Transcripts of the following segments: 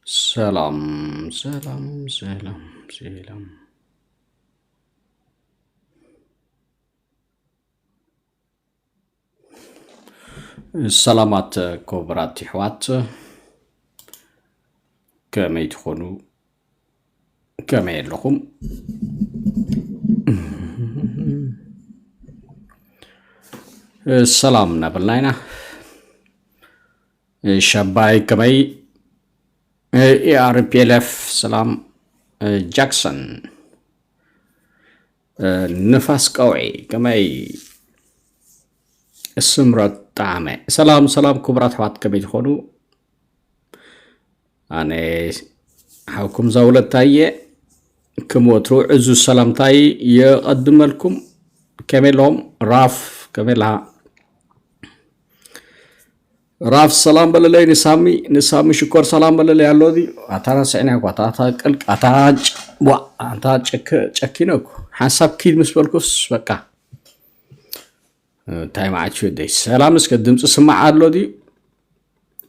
ሰላም ሰላም ሰላም ሰላም ሰላማት ክቡራት ይሕዋት ከመይ ትኾኑ ከመይ ኣለኹም ሰላም እናበልና ኢና ሸባይ ከመይ ኢኣርፒኤልኤፍ ሰላም ጃክሰን ንፋስ ቀውዒ ከመይ ስምረት ጣዕመ ሰላም ሰላም ክቡራት ኣሕዋት ከመይ ትኾኑ ኣነ ሓውኩም ዛውለታይ እየ ክም ወትሩ ዕዙዝ ሰላምታይ የቐድመልኩም ከመሎም ራፍ ከመላ ራፍ ሰላም በለለይ ንሳሚ ንሳሚ ሽኮር ሰላም በለለይ ኣሎ ዚ ኣታና ስዕናያ ኳ ኣታ ቅልቅ ኣታ ዋ ኣታ ጨኪነኩ ሓንሳብ ኪድ ምስ በልኩስ በቃ እንታይ መዓት እዩ ደይ ሰላም እስከ ድምፂ ስማዕ ኣሎ ድዩ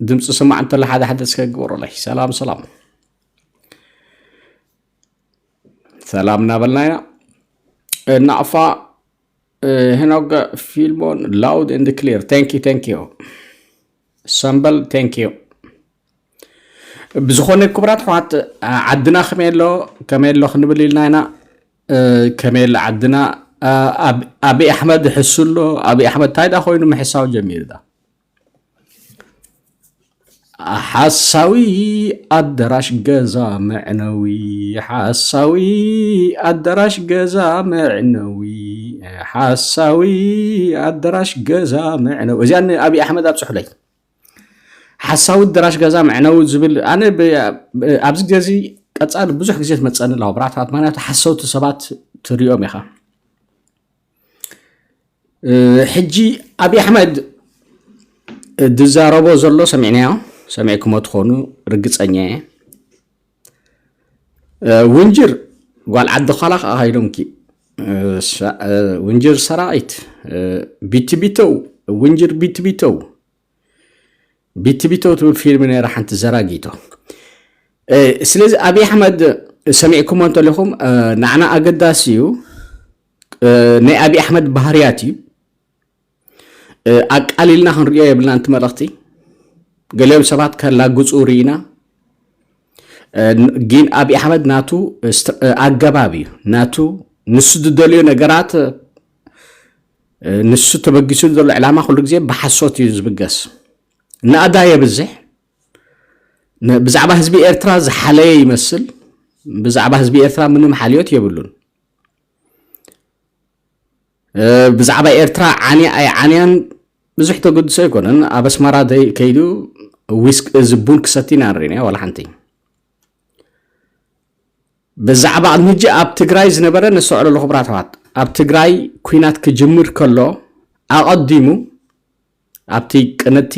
ድምፂ ስማዕ እንተላ ሓደ ሓደ እስከ ግበሩለይ ሰላም ሰላም ሰላም እናበልና ኢና እናዕፋ ሄኖገ ፊልሞን ላውድ ኤንድ ክሊር ታንኪ ታንኪ ሰምበል ታንኪ ብዝኾነ ክቡራት ኣሕዋት ዓድና ከመይ ኣሎ ከመይ ኣሎ ክንብል ኢልና ኢና ከመይ ኣሎ ዓድና ኣብይ ኣሕመድ ሕሱ ኣሎ ኣብይ ኣሕመድ ታይዳ ኮይኑ ምሕሳው ጀሚሩ ዳ ሓሳዊ ኣደራሽ ገዛ መዕነዊ ሓሳዊ ኣደራሽ ገዛ መዕነዊ ሓሳዊ ኣደራሽ ገዛ መዕነዊ እዚኣ ንኣብይ ኣሕመድ ኣብፅሑለይ ሓሳዊት ደራሽ ገዛ መዕነዊ ዝብል ኣነ ኣብዚ ግዜ እዚ ቀፃሊ ብዙሕ ግዜ ትመፀኒ ኣለዋ ብራታት ምክንያቱ ሓሰውቲ ሰባት ትሪኦም ኢኻ ሕጂ ኣብዪ ኣሕመድ ዝዛረቦ ዘሎ ሰሚዕናዮ ሰሚዕክሞ ትኾኑ ርግፀኛ እየ ውንጅር ጓል ዓዲ ዃላ ከዓ ሃይሎምኪ ውንጅር ሰራዊት ቢትቢተው ውንጅር ቢትቢተው ቢትቢተው ትብል ፊልም ነይራ ሓንቲ ዘራጊቶ ስለዚ ኣብይ ኣሕመድ ሰሚዕኩሞ እንተለኹም ንዓና ኣገዳሲ እዩ ናይ ኣብይ ኣሕመድ ባህርያት እዩ ኣቃሊልና ክንሪኦ የብልና ንቲ መልእኽቲ ገሊኦም ሰባት ከላግፁ ርኢና ጊን ኣብ ኣሕመድ ናቱ ኣገባብ እዩ ናቱ ንሱ ዝደልዮ ነገራት ንሱ ተበጊሱሉ ዘሎ ዕላማ ኩሉ ግዜ ብሓሶት እዩ ዝብገስ ናእዳ የብዝሕ ብዛዕባ ህዝቢ ኤርትራ ዝሓለየ ይመስል ብዛዕባ ህዝቢ ኤርትራ ምንም ሓልዮት የብሉን ብዛዕባ ኤርትራ ዓንያ ኣይዓንያን ብዙሕ ተገድሶ ኣይኮነን ኣብ ኣስመራ ከይዱ ዊስክ እዚ ቡን ክሰቲ ኢና ንሪእናዮ ዋላ ሓንቲ ብዛዕባ ቅድሚ ሕጂ ኣብ ትግራይ ዝነበረ ነስተውዕሎ ኣለኹ ብራተዋት ኣብ ትግራይ ኩናት ክጅምር ከሎ ኣቐዲሙ ኣብቲ ቅንቲ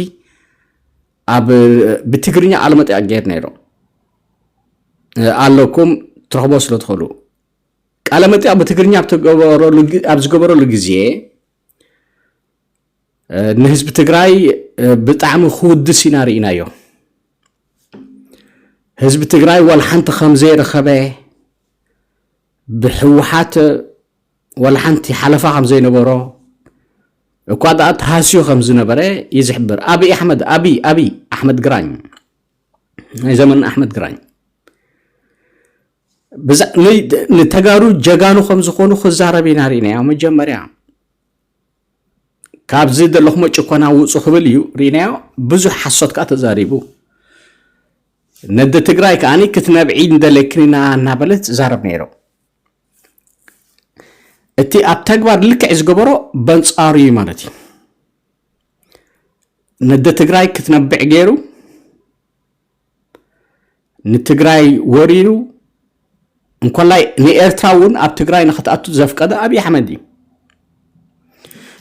ኣብ ብትግርኛ ቃለመጠ ኣገይር ነይሩ ኣለኩም ትረኽቦ ስለ ትኽእሉ ቃለ መጠይቕ ብትግርኛ ኣብ ዝገበረሉ ግዜ ንህዝቢ ትግራይ ብጣዕሚ ክውድስ ኢና ርኢናዮ ህዝቢ ትግራይ ዋላ ሓንቲ ከም ዘይረኸበ ብሕወሓት ዋላ ሓንቲ ሓለፋ ከም ዘይነበሮ እኳ ደኣ ተሃስዩ ከም ዝነበረ እዩ ዝሕብር ኣብ ኣሕመድ ኣብ ኣብ ኣሕመድ ግራኝ ናይ ዘመን ኣሕመድ ግራኝ ንተጋሩ ጀጋኑ ከም ዝኾኑ ክዛረብ ኢና ርኢናዮ መጀመርያ ካብዚ ዘለኹሞ ጭኮና ውፁ ክብል እዩ ርኢናዮ ብዙሕ ሓሶት ከዓ ተዛሪቡ ነደ ትግራይ ከዓ ክትነብዒ እንደለክንና እናበለት ትዛረብ ነይሩ እቲ ኣብ ተግባር ልክዕ ዝገበሮ በንፃሩ እዩ ማለት እዩ ነደ ትግራይ ክትነብዕ ገይሩ ንትግራይ ወሪሩ እንኮላይ ንኤርትራ እውን ኣብ ትግራይ ንክትኣቱ ዘፍቀደ ኣብዪ ኣሕመድ እዩ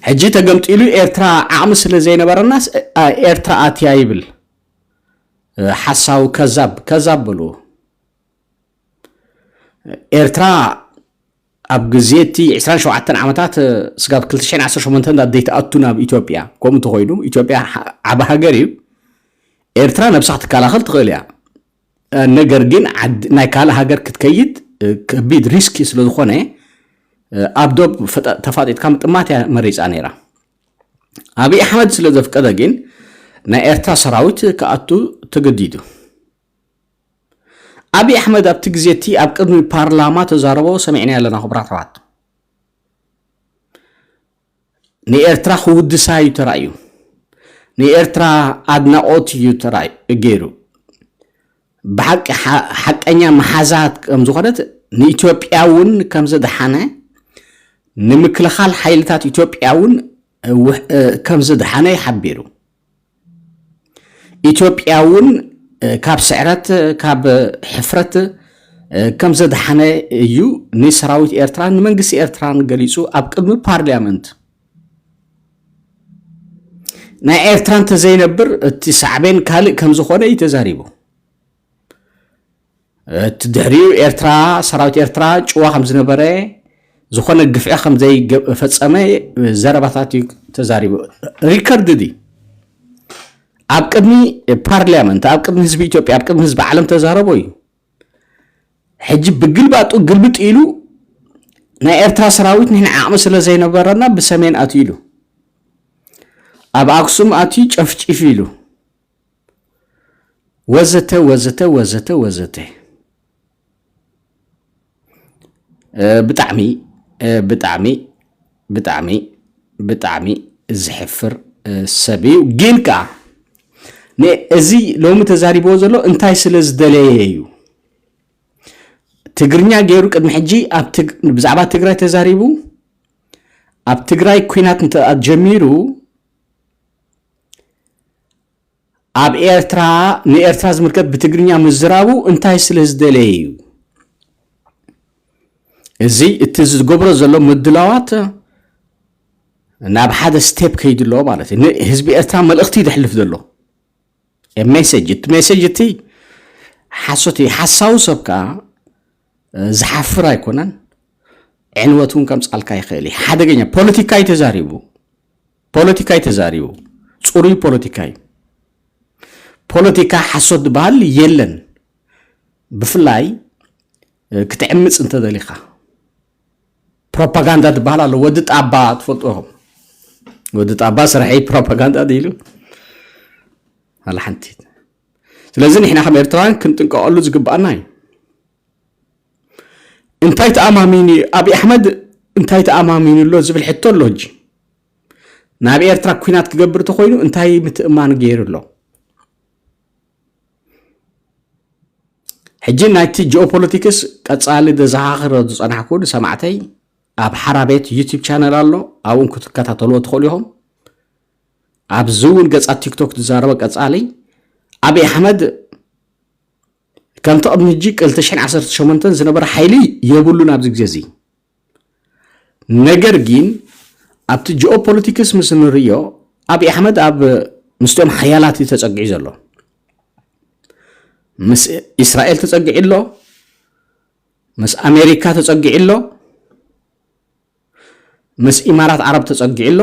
ሕጂ ተገምጢሉ ኤርትራ ዓቕሚ ስለ ዘይነበረናስ ኤርትራ ኣትያ ይብል ሓሳዊ ከዛብ ከዛብ በልዎ ኤርትራ ኣብ ግዜ እቲ 27 ዓመታት ስጋብ 2018 እንዳ ዘይትኣቱ ናብ ኢትዮጵያ ከምኡ እንተኾይኑ ኢትዮጵያ ዓቢ ሃገር እዩ ኤርትራ ነብሳ ክትከላኸል ትኽእል እያ ነገር ግን ናይ ካልእ ሃገር ክትከይድ ከቢድ ሪስኪ ስለ ዝኾነ ኣብ ዶብ ተፋጢጥካ ምጥማት እያ መሪፃ ነይራ ኣብዪ ኣሕመድ ስለ ዘፍቀደ ግን ናይ ኤርትራ ሰራዊት ክኣቱ ተገዲዱ ኣብይ ኣሕመድ ኣብቲ ግዜ እቲ ኣብ ቅድሚ ፓርላማ ተዛረቦ ሰሚዕናዮ ኣለና ክቡራት ኣሕዋት ንኤርትራ ክውድሳ እዩ ተራእዩ ንኤርትራ ኣድናቆት እዩ ተራእዩ ገይሩ ብሓቂ ሓቀኛ መሓዛት ከም ዝኾነት ንኢትዮጵያ እውን ከም ዝደሓነ ንምክልኻል ሓይልታት ኢትዮጵያ እውን ከም ዝደሓነ ይሓቢሩ ኢትዮጵያ እውን ካብ ስዕረት ካብ ሕፍረት ከም ዘድሓነ እዩ ንሰራዊት ኤርትራን ንመንግስቲ ኤርትራን ገሊጹ ኣብ ቅድሚ ፓርሊያመንት ናይ ኤርትራ እንተዘይነብር እቲ ሳዕቤን ካልእ ከም ዝኾነ እዩ ተዛሪቡ። እቲ ድሕሪኡ ኤርትራ ሰራዊት ኤርትራ ጭዋ ከም ዝነበረ ዝኾነ ግፍዒ ከም ዘይፈጸመ ዘረባታት እዩ ተዛሪቡ ሪከርድ ድዩ ኣብ ቅድሚ ፓርላመንት ኣብ ቅድሚ ህዝቢ ኢትዮጵያ ኣብ ቅድሚ ህዝቢ ዓለም ተዛረቦ እዩ ሕጂ ብግልባጡ ግልብጥ ኢሉ ናይ ኤርትራ ሰራዊት ንሕና ዓቕሚ ስለ ዘይነበረና ብሰሜን ኣትዩ ኢሉ ኣብ ኣክሱም ኣትዩ ጨፍጪፍ ኢሉ ወዘተ ወዘተ ወዘተ ወዘተ ብጣዕሚ ብጣዕሚ ብጣዕሚ ብጣዕሚ ዝሕፍር ሰብ እዩ ግን ከዓ እዚ ሎሚ ተዛሪብዎ ዘሎ እንታይ ስለ ዝደለየ እዩ ትግርኛ ገይሩ ቅድሚ ሕጂ ብዛዕባ ትግራይ ተዛሪቡ ኣብ ትግራይ ኩናት እንተ ጀሚሩ ኣብ ኤርትራ ንኤርትራ ዝምልከት ብትግርኛ ምዝራቡ እንታይ ስለ ዝደለየ እዩ እዚ እቲ ዝገብሮ ዘሎ ምድላዋት ናብ ሓደ ስቴፕ ከይዱ ኣሎ ማለት እዩ ንህዝቢ ኤርትራ መልእኽቲ እዩ ዘሕልፍ ዘሎ ሜሴጅ እቲ ሜሴጅ እቲ ሓሶት እዩ ሓሳዊ ሰብ ከዓ ዝሓፍር ኣይኮነን። ዕንወት እውን ከምፃልካ ይኽእል እዩ። ሓደገኛ ፖለቲካ እዩ ተዛሪቡ፣ ፖለቲካ እዩ ተዛሪቡ፣ ፅሩይ ፖለቲካ እዩ። ፖለቲካ ሓሶት ዝበሃል የለን። ብፍላይ ክትዕምፅ እንተደሊኻ ፕሮፓጋንዳ ዝበሃል ኣሎ። ወዲ ጣባ ትፈልጡ ኢኹም። ወዲ ጣባ ስራሒ ፕሮፓጋንዳ ኢሉ ኣላ ሓንቲ ስለዚ ንሕና ከም ኤርትራውያን ክንጥንቀቐሉ ዝግባኣና እዩ እንታይ ተኣማሚኑ እዩ ኣብዪ ኣሕመድ እንታይ ተኣማሚኑ ኣሎ ዝብል ሕቶ ኣሎ ሕጂ ናብ ኤርትራ ኩናት ክገብር ተኮይኑ እንታይ ምትእማን ገይሩ ኣሎ ሕጂ ናይቲ ጂኦፖለቲክስ ቀፃሊ ዘዘኻኽሮ ዝፀናሕኩ ንሰማዕተይ ኣብ ሓራ ቤት ዩቲብ ቻነል ኣሎ ኣብኡን ክትከታተልዎ ትኽእሉ ኢኹም ኣብዚ እውን ገፃት ቲክቶክ ዝዛረበ ቀፃሊ ኣብይ ኣሕመድ ከምቲ ቅድሚ ሕጂ 218 ዝነበረ ሓይሊ የብሉን ኣብዚ ግዜ እዚ ነገር ግን ኣብቲ ጂኦፖለቲክስ ምስ ንርዮ ኣብይ ኣሕመድ ኣብ ምስቶም ሓያላት እዩ ተፀጊዑ ዘሎ ምስ እስራኤል ተፀጊዑ ኣሎ ምስ ኣሜሪካ ተፀጊዑ ኣሎ ምስ ኢማራት ዓረብ ተጸጊዑ ኣሎ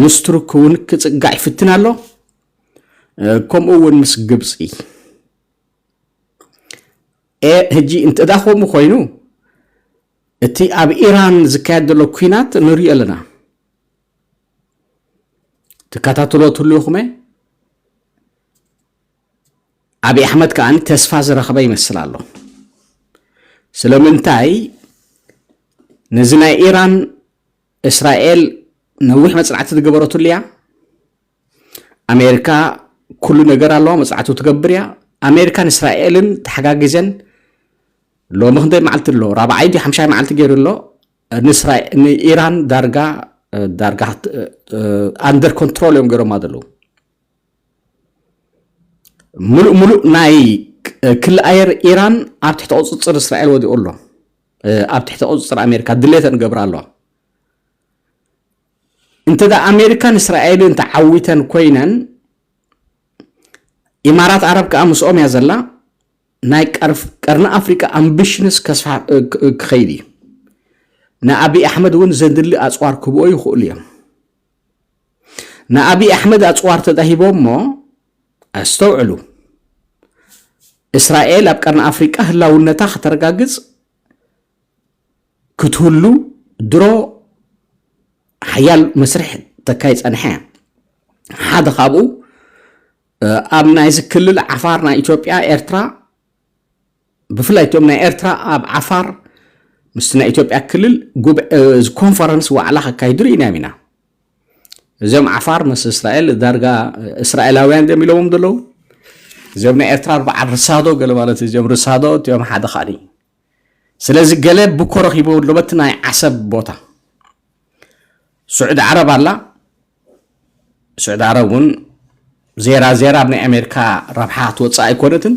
ምስ ቱርክ እውን ክጽጋዕ ይፍትን ኣሎ ከምኡ እውን ምስ ግብፂ ሕጂ እንተዳ ከምኡ ኮይኑ እቲ ኣብ ኢራን ዝካየድ ዘሎ ኩናት ንሪኦ ኣለና ትከታተሎ ትህልውኹመ ኣብይ ኣሕመድ ከኣ ተስፋ ዝረኽበ ይመስል ኣሎ ስለምንታይ ነዚ ናይ ኢራን እስራኤል ነዊሕ መጽናዕቲ ዝገበረትሉ እያ ኣሜሪካ ኩሉ ነገር ኣለዋ መፅናዕቱ ትገብር እያ ኣሜሪካን እስራኤልን ተሓጋጊዘን ሎሚ ክንደይ መዓልቲ ኣሎ ራብዓይ ዲ ሓምሻይ መዓልቲ ገይሩ ኣሎ ንኢራን ዳርጋ ዳርጋ ኣንደር ኮንትሮል እዮም ገይሮማ ዘለዉ ምሉእ ምሉእ ናይ ክሊ ኣየር ኢራን ኣብ ትሕቲ ቁፅፅር እስራኤል ወዲቑ ኣሎ ኣብ ትሕቲ ቁፅፅር ኣሜሪካ ድሌተን ገብራ ኣለዋ እንተ ኣሜሪካን እስራኤልን ተዓዊተን ኮይነን ኢማራት ዓረብ ከዓ ምስኦም እያ ዘላ ናይ ቀርኒ ኣፍሪቃ ኣምቢሽንስ ክኸይድ እዩ ንኣብዪ ኣሕመድ እውን ዘድሊ ኣፅዋር ክብኦ ይኽእሉ እዮም ንኣብይ ኣሕመድ ኣፅዋር ተዳሂቦሞ ኣስተውዕሉ እስራኤል ኣብ ቀርኒ ኣፍሪቃ ህላውነታ ከተረጋግፅ ክትህሉ ድሮ ሓያል መስርሕ ተካይ ፀንሐ እያ ሓደ ካብኡ ኣብ ናይዚ ክልል ዓፋር ናይ ኢትዮጵያ ኤርትራ ብፍላይ እቶም ናይ ኤርትራ ኣብ ዓፋር ምስቲ ናይ ኢትዮጵያ ክልል ኮንፈረንስ ዋዕላ ከካይዱ ርኢናዮም ኢና እዚኦም ዓፋር ምስ እስራኤል ዳርጋ እስራኤላውያን ዲዮም ኢሎዎም ዘለዉ እዚኦም ናይ ኤርትራ በዓል ርሳዶ ገለ ማለት እዚኦም ርሳዶ እቲኦም ሓደ ካኒ ስለዚ ገለ ብኮ ረኪቦ ኣሎ በቲ ናይ ዓሰብ ቦታ ስዑዲ ዓረብ ኣላ ስዑድ ዓረብ እውን ዜራ ዜራ ኣብ ናይ ኣሜሪካ ረብሓ ትወፅእ ኣይኮነትን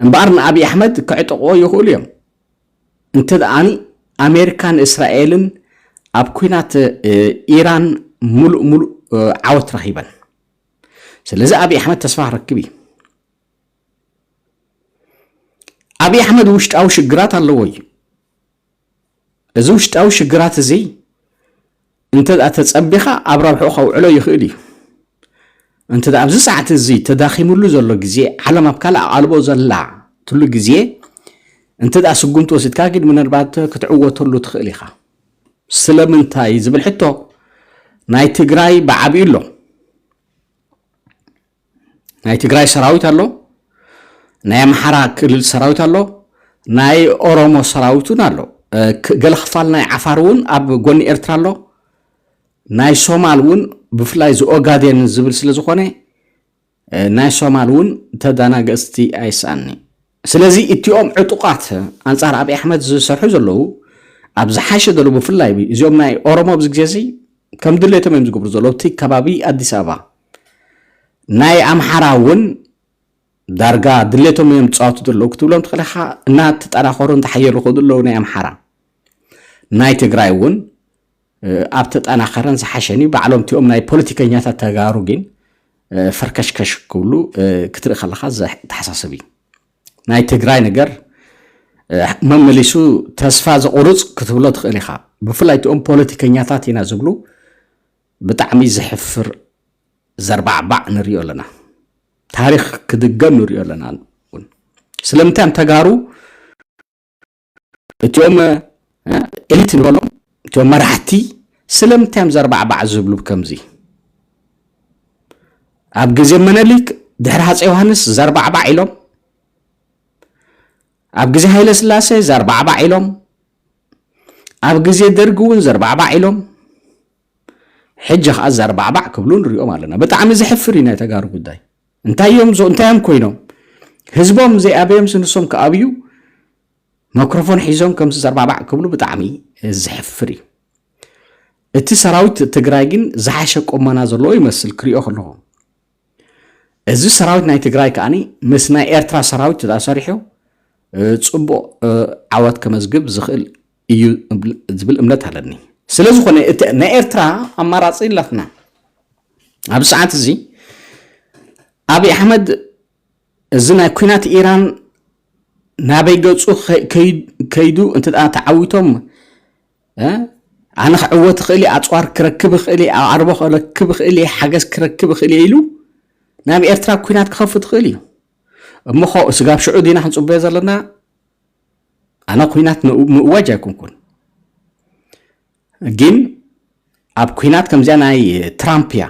እምበኣር ንኣብዪ ኣሕመድ ክዕጥቕዎ ይኽእሉ እዮም እንተ ደኣኒ ኣሜሪካን እስራኤልን ኣብ ኩናት ኢራን ሙሉእ ሙሉእ ዓወት ረኺበን ስለዚ ኣብዪ ኣሕመድ ተስፋ ክረክብ እዩ ኣብዪ ኣሕመድ ውሽጣዊ ሽግራት ኣለዎ እዩ እዚ ውሽጣዊ ሽግራት እዚ እንተ ተጸቢኻ ኣብ ረብሕኡ ከውዕሎ ይኽእል እዩ። እንተ ኣብዚ ሰዓት እዚ ተዳኺምሉ ዘሎ ግዜ ዓለም ኣብ ካልእ ኣቓልቦ ዘላ ትሉ ግዜ እንተ ስጉምቲ ወሲድካ ግን ምናልባት ክትዕወተሉ ትኽእል ኢኻ። ስለምንታይ ዝብል ሕቶ ናይ ትግራይ ብዓብዩ ኣሎ። ናይ ትግራይ ሰራዊት ኣሎ፣ ናይ ኣምሓራ ክልል ሰራዊት ኣሎ፣ ናይ ኦሮሞ ሰራዊት እውን ኣሎ። ገለ ክፋል ናይ ዓፋር እውን ኣብ ጎኒ ኤርትራ ኣሎ። ናይ ሶማል እውን ብፍላይ እዚ ኦጋዴን ዝብል ስለ ዝኾነ ናይ ሶማል እውን ተደናገፅቲ ኣይስኣኒ ስለዚ እቲኦም ዕጡቃት ኣንጻር ኣቢ ኣሕመድ ዝሰርሑ ዘለዉ ኣብ ዝሓሸ ገሉ ብፍላይ እዚኦም ናይ ኦሮሞ ኣብዚ ግዜ እዚ ከም ድሌቶም እዮም ዝገብሩ ዘለዉ እቲ ከባቢ ኣዲስ ኣበባ ናይ ኣምሓራ እውን ዳርጋ ድሌቶም እዮም ዝፃወቱ ዘለዉ ክትብሎም ትኽእል ኢኻ እናተጠናኸሩ እንተሓየሉ ከዱ ኣለዉ ናይ ኣምሓራ ናይ ትግራይ እውን ኣብ ተጠናኸረን ዝሓሸን እዩ ባዕሎም እቲኦም ናይ ፖለቲከኛታት ተጋሩ ግን ፈርከሽከሽ ክብሉ ክትርኢ ከለካ ዘተሓሳስብ እዩ ናይ ትግራይ ነገር መመሊሱ ተስፋ ዘቑርፅ ክትብሎ ትኽእል ኢኻ ብፍላይ እቲኦም ፖለቲከኛታት ኢና ዝብሉ ብጣዕሚ ዘሕፍር ዘርባዕባዕ ንሪኦ ኣለና ታሪክ ክድገም ንሪኦ ኣለና ስለምንታይ ተጋሩ እቲኦም ኤሊት ንበሎም እቲኦም መራሕቲ ስለምንታይ እዮም ዘርባዕባዕ ዝብሉ ከምዚ ኣብ ግዜ መነሊክ ድሕሪ ሃፀ ዮሃንስ ዘርባዕባዕ ኢሎም ኣብ ግዜ ሃይለ ስላሴ ዘርባዕባዕ ኢሎም ኣብ ግዜ ደርጊ እውን ዘርባዕባዕ ኢሎም ሕጂ ከዓ ዘርባዕባዕ ክብሉ ንሪኦም ኣለና ብጣዕሚ ዘሕፍር እዩ ናይ ተጋሩ ጉዳይ እንታይ እዮም እንታይ እዮም ኮይኖም ህዝቦም ዘይኣበዮም ስንሶም ክኣብዩ መክሮፎን ሒዞም ከምዚ ዘርባባዕ ክብሉ ብጣዕሚ ዘሕፍር እዩ እቲ ሰራዊት ትግራይ ግን ዝሓሸ ቆመና ዘለዎ ይመስል ክሪኦ ከለኹ እዚ ሰራዊት ናይ ትግራይ ከዓኒ ምስ ናይ ኤርትራ ሰራዊት ተሰሪሑ ፅቡቅ ዓወት ከመዝግብ ዝኽእል እዩ ዝብል እምነት ኣለኒ ስለ ዝኾነ ናይ ኤርትራ ኣማራፂ ኣላትና ኣብ ሰዓት እዚ ኣብይ ኣሕመድ እዚ ናይ ኩናት ኢራን ናበይ ገፁ ከይዱ እንተ ተዓዊቶም ኣነ ክዕወት እኽእል እየ ኣፅዋር ክረክብ እኽእል እየ ኣዕርቦ ክረክብ እኽእል እየ ሓገዝ ክረክብ እኽእል እየ ኢሉ ናብ ኤርትራ ኩናት ክኸፍት እኽእል እዩ እሞ ስጋብ ሽዑ ዲና ክንፅበዮ ዘለና ኣነ ኩናት ምእዋጅ ኣይኮንኩን ግን ኣብ ኩናት ከምዚኣ ናይ ትራምፕ እያ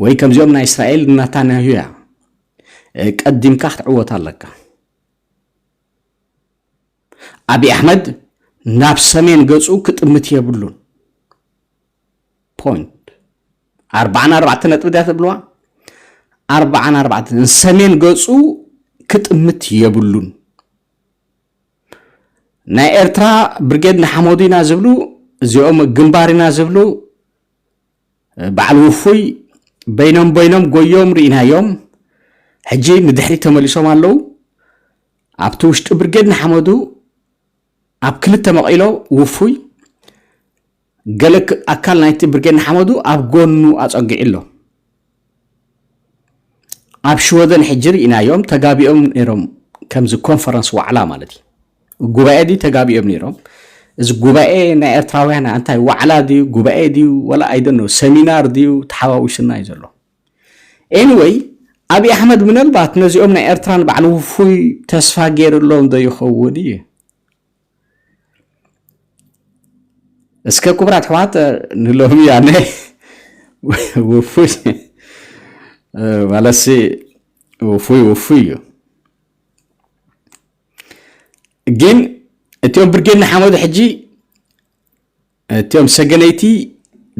ወይ ከምዚኦም ናይ እስራኤል ናታንያሁ እያ ቀዲምካ ክትዕወት ኣለካ ኣብዪ ኣሕመድ ናብ ሰሜን ገፁ ክጥምት የብሉን ፖይንት ኣርባዓን ኣርባዕተ ነጥቢ ድያ ተብልዋ ኣርባዓን ኣርባዕተ ንሰሜን ገጹ ክጥምት የብሉን ናይ ኤርትራ ብርጌድ ንሓመዱ ኢና ዝብሉ እዚኦም ግንባር ኢና ዝብሉ በዓል ውፉይ በይኖም በይኖም ጎዮም ርኢናዮም ሕጂ ንድሕሪ ተመሊሶም ኣለዉ ኣብቲ ውሽጢ ብርጌድ ንሓመዱ ኣብ ክልተ መቒሎ ውፉይ ገለ ኣካል ናይቲ ብርጌድ ንሓመዱ ኣብ ጎኑ ኣጸጊዑ ኣሎ። ኣብ ሽወደን ሕጂ ርኢናዮም ተጋቢኦም ነይሮም ከምዚ ኮንፈረንስ ዋዕላ ማለት እዩ ጉባኤ ድዩ ተጋቢኦም ነይሮም እዚ ጉባኤ ናይ ኤርትራውያን እንታይ ዋዕላ ድዩ ጉባኤ ድዩ ወላ ኣይደኖ ሰሚናር ድዩ ተሓዋዊሱና እዩ ዘሎ Anyway ኣብይ ኣሕመድ ምነልባት ነዚኦም ናይ ኤርትራ ንባዕሉ ውፉይ ተስፋ ገይርሎም ዶ ይኸውን እዩ እስከ ክቡራት ኣሕዋት ንሎሚ ያነ ውፉይ ማለሲ ውፉይ ውፉይ እዩ ግን እቲኦም ብርጌድ ንሓመዱ ሕጂ እትም ሰገነይቲ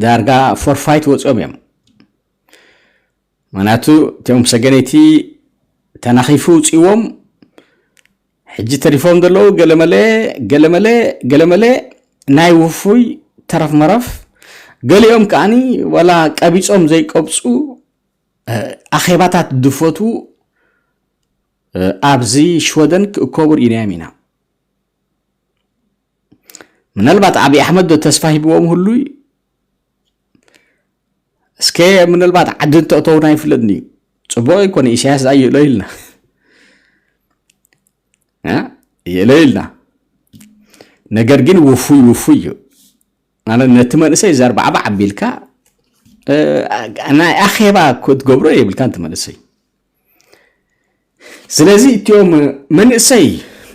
ዳርጋ ፎርፋይት ወፅኦም እዮም ምክንያቱ እትም ሰገነይቲ ተናኺፉ ውፅዎም ሕጂ ተሪፎም ዘለዉ ገለመለ ገለመለ ገለመለ ናይ ውፉይ ተረፍ መረፍ ገሊኦም ከዓኒ ዋላ ቀቢፆም ዘይቀብፁ ኣኼባታት ድፈቱ ኣብዚ ሽወደን ክእከቡ ርኢናዮም ኢና ምናልባት ዓብዪ ኣሕመድ ዶ ተስፋ ሂብዎም ህሉ እዩ እስከ ምናልባት ዓዲ እንተእተውና ይፍለጥኒ እዩ ፅቡቅ ይኮነ ኢሳያስ ዛ ይእሎ ኢልና ይእሎ ኢልና ነገር ግን ውፉይ ውፉይ እዩ ማለት ነቲ መንእሰይ ዘርባዕባ ዓቢልካ ናይ ኣኼባ ክትገብሮ የብልካ እቲ መንእሰይ ስለዚ እትኦም መንእሰይ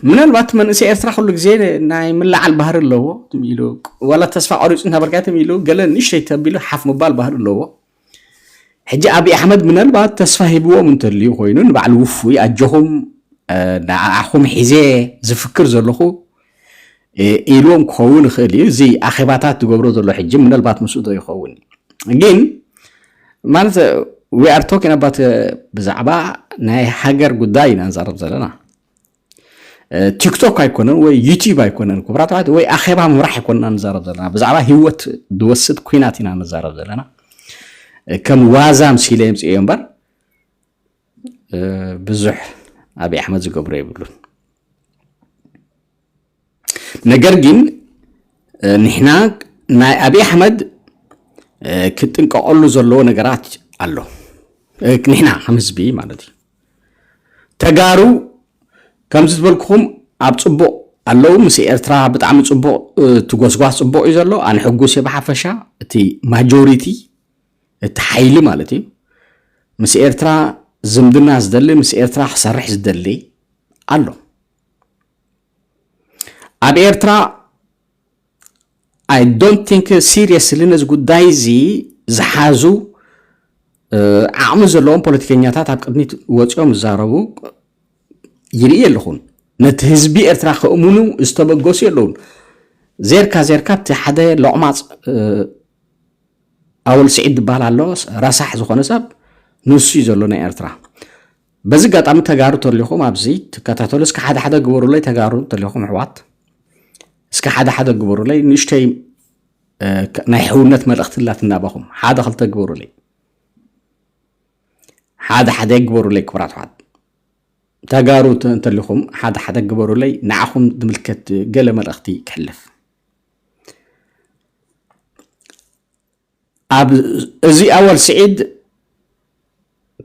ምናልባት መንእሰይ ኤርትራ ኩሉ ግዜ ናይ ምልዓል ባህሪ ኣለዎ ኢሉ ዋላ ተስፋ ቆሪፁ እንተበርካት ኢሉ ገለ ንእሽተይ ተቢሉ ሓፍ ምባል ባህሪ ኣለዎ ሕጂ ኣብዪ ኣሕመድ ምናልባት ተስፋ ሂብዎም እንተልዩ ኮይኑ ንባዕሉ ውፉይ ኣጆኹም ንዓኹም ሒዜ ዝፍክር ዘለኹ ኢሉዎም ክኸውን ይኽእል እዩ እዚ ኣኼባታት ዝገብሮ ዘሎ ሕጂ ምናልባት ምስኡ ዶ ይኸውን ግን ማለት ዊ ኣር ቶኪን ኣባት ብዛዕባ ናይ ሃገር ጉዳይ ኢና ንዛረብ ዘለና ቲክቶክ ኣይኮነን ወይ ዩቲብ ኣይኮነን ክብራት ኣሕዋት ወይ ኣኼባ ምብራሕ ኣይኮንና ንዛረብ ዘለና ብዛዕባ ሂወት ዝወስድ ኩናት ኢና ንዛረብ ዘለና ከም ዋዛ ምሲለ የምፅኦ እምበር ብዙሕ ኣብይ ኣሕመድ ዝገብሮ የብሉን ነገር ግን ንሕና ናይ ኣብይ ኣሕመድ ክጥንቀቐሉ ዘለዎ ነገራት ኣሎ ንሕና ከም ህዝቢ ማለት እዩ ተጋሩ ከምዚ ዝበልኩኹም ኣብ ፅቡቕ ኣለዉ ምስ ኤርትራ ብጣዕሚ ፅቡቕ እቲ ጎስጓስ ፅቡቕ እዩ ዘሎ ኣነ ሕጉስ እየ ብሓፈሻ እቲ ማጆሪቲ እቲ ሓይሊ ማለት እዩ ምስ ኤርትራ ዝምድና ዝደሊ ምስ ኤርትራ ክሰርሕ ዝደሊ ኣሎ ኣብ ኤርትራ ኣይ ዶንት ቲንክ ሲሪየስሊ ነዚ ጉዳይ እዚ ዝሓዙ ዓቕሚ ዘለዎም ፖለቲከኛታት ኣብ ቅድሚት ወፂኦም ዝዛረቡ ይርኢ ኣለኹን ነቲ ህዝቢ ኤርትራ ከእምኑ ዝተበገሱ የለውን ዜርካ ዜርካ እቲ ሓደ ሎቕማፅ ኣወል ስዒድ ዝበሃል ኣሎ ረሳሕ ዝኾነ ሰብ ንሱ እዩ ዘሎ ናይ ኤርትራ በዚ ኣጋጣሚ ተጋሩ ተሊኹም ኣብዚ ትከታተሉ እስከ ሓደ ሓደ ግበሩለይ ተጋሩ ተሊኹም ኣሕዋት እስከ ሓደ ሓደ ግበሩለይ ንእሽተይ ናይ ሕውነት መልእኽቲ ላትናባኹም ሓደ ክልተ ግበሩለይ ሓደ ሓደ ግበሩለይ ክብራት ኣሕዋት ተጋሩ እንተሊኹም ሓደ ሓደ ግበሩለይ ንዓኹም ዝምልከት ገለ መልእኽቲ ክሕልፍ ኣብ እዚ ኣወል ስዒድ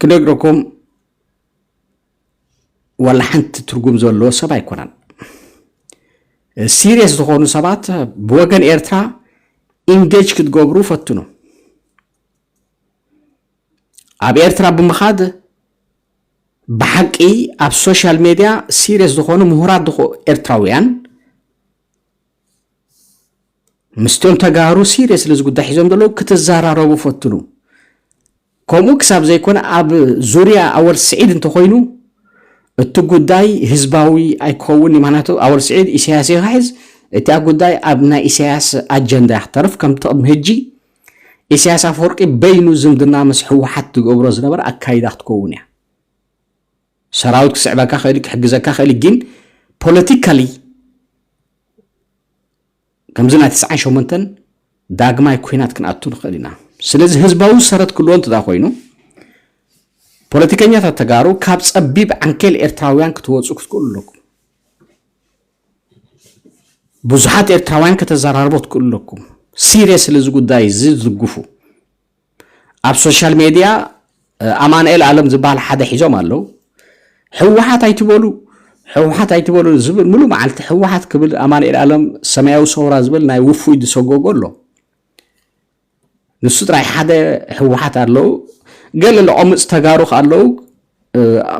ክነግረኩም ዋላ ሓንቲ ትርጉም ዘለዎ ሰብ ኣይኮነን። ሲሪየስ ዝኾኑ ሰባት ብወገን ኤርትራ ኢንጌጅ ክትገብሩ ፈትኑ። ኣብ ኤርትራ ብምኻድ ብሓቂ ኣብ ሶሻል ሜድያ ሲሪየስ ዝኾኑ ምሁራት ኤርትራውያን ምስቶም ተጋሩ ሲሪየስሊ እዚ ጉዳይ ሒዞም ዘለዉ ክትዘራረቡ ፈትኑ ከምኡ ክሳብ ዘይኮነ ኣብ ዙርያ ኣወል ስዒድ እንተኮይኑ እቲ ጉዳይ ህዝባዊ ኣይክኸውን ምክንያቱ ኣወል ስዒድ ኢሳያስ ይክሕዝ እታ ጉዳይ ኣብ ናይ ኢሳያስ ኣጀንዳ ክተርፍ ከምቲ ቅድሚ ህጂ ኢሳያስ ኣፈወርቂ በይኑ ዝምድና ምስ ሕወሓት ዝገብሮ ዝነበረ ኣካይዳ ክትከውን እያ ሰራዊት ክስዕበካ ይኽእል እዩ፣ ክሕግዘካ ይኽእል እዩ፣ ግን ፖለቲካሊ ከምዚ ናይ ትስዓን ሸሞንተን ዳግማይ ኩናት ክንኣቱ ንኽእል ኢና። ስለዚ ህዝባዊ ሰረት ክልዎ እንተዳ ኮይኑ ፖለቲከኛታት ተጋሩ ካብ ጸቢብ ዓንኬል ኤርትራውያን ክትወፁ ክትክእሉ ኣለኩም ብዙሓት ኤርትራውያን ከተዘራርቦ ትክእሉ ኣለኩም ሲሪየስ ስለዚ ጉዳይ እዚ ዝድግፉ ኣብ ሶሻል ሜድያ ኣማንኤል ኣለም ዝበሃል ሓደ ሒዞም ኣለው ሕወሓት ኣይትበሉ ሕወሓት ኣይትበሉ ዝብል ሙሉእ መዓልቲ ሕወሓት ክብል ኣማንኤል ኣለም ሰማያዊ ሰውራ ዝብል ናይ ውፉይ ዝሰጎጎ ኣሎ ንሱ ጥራይ ሓደ ሕወሓት ኣለው ገለ ልቆምፅ ተጋሩ ከ ኣለው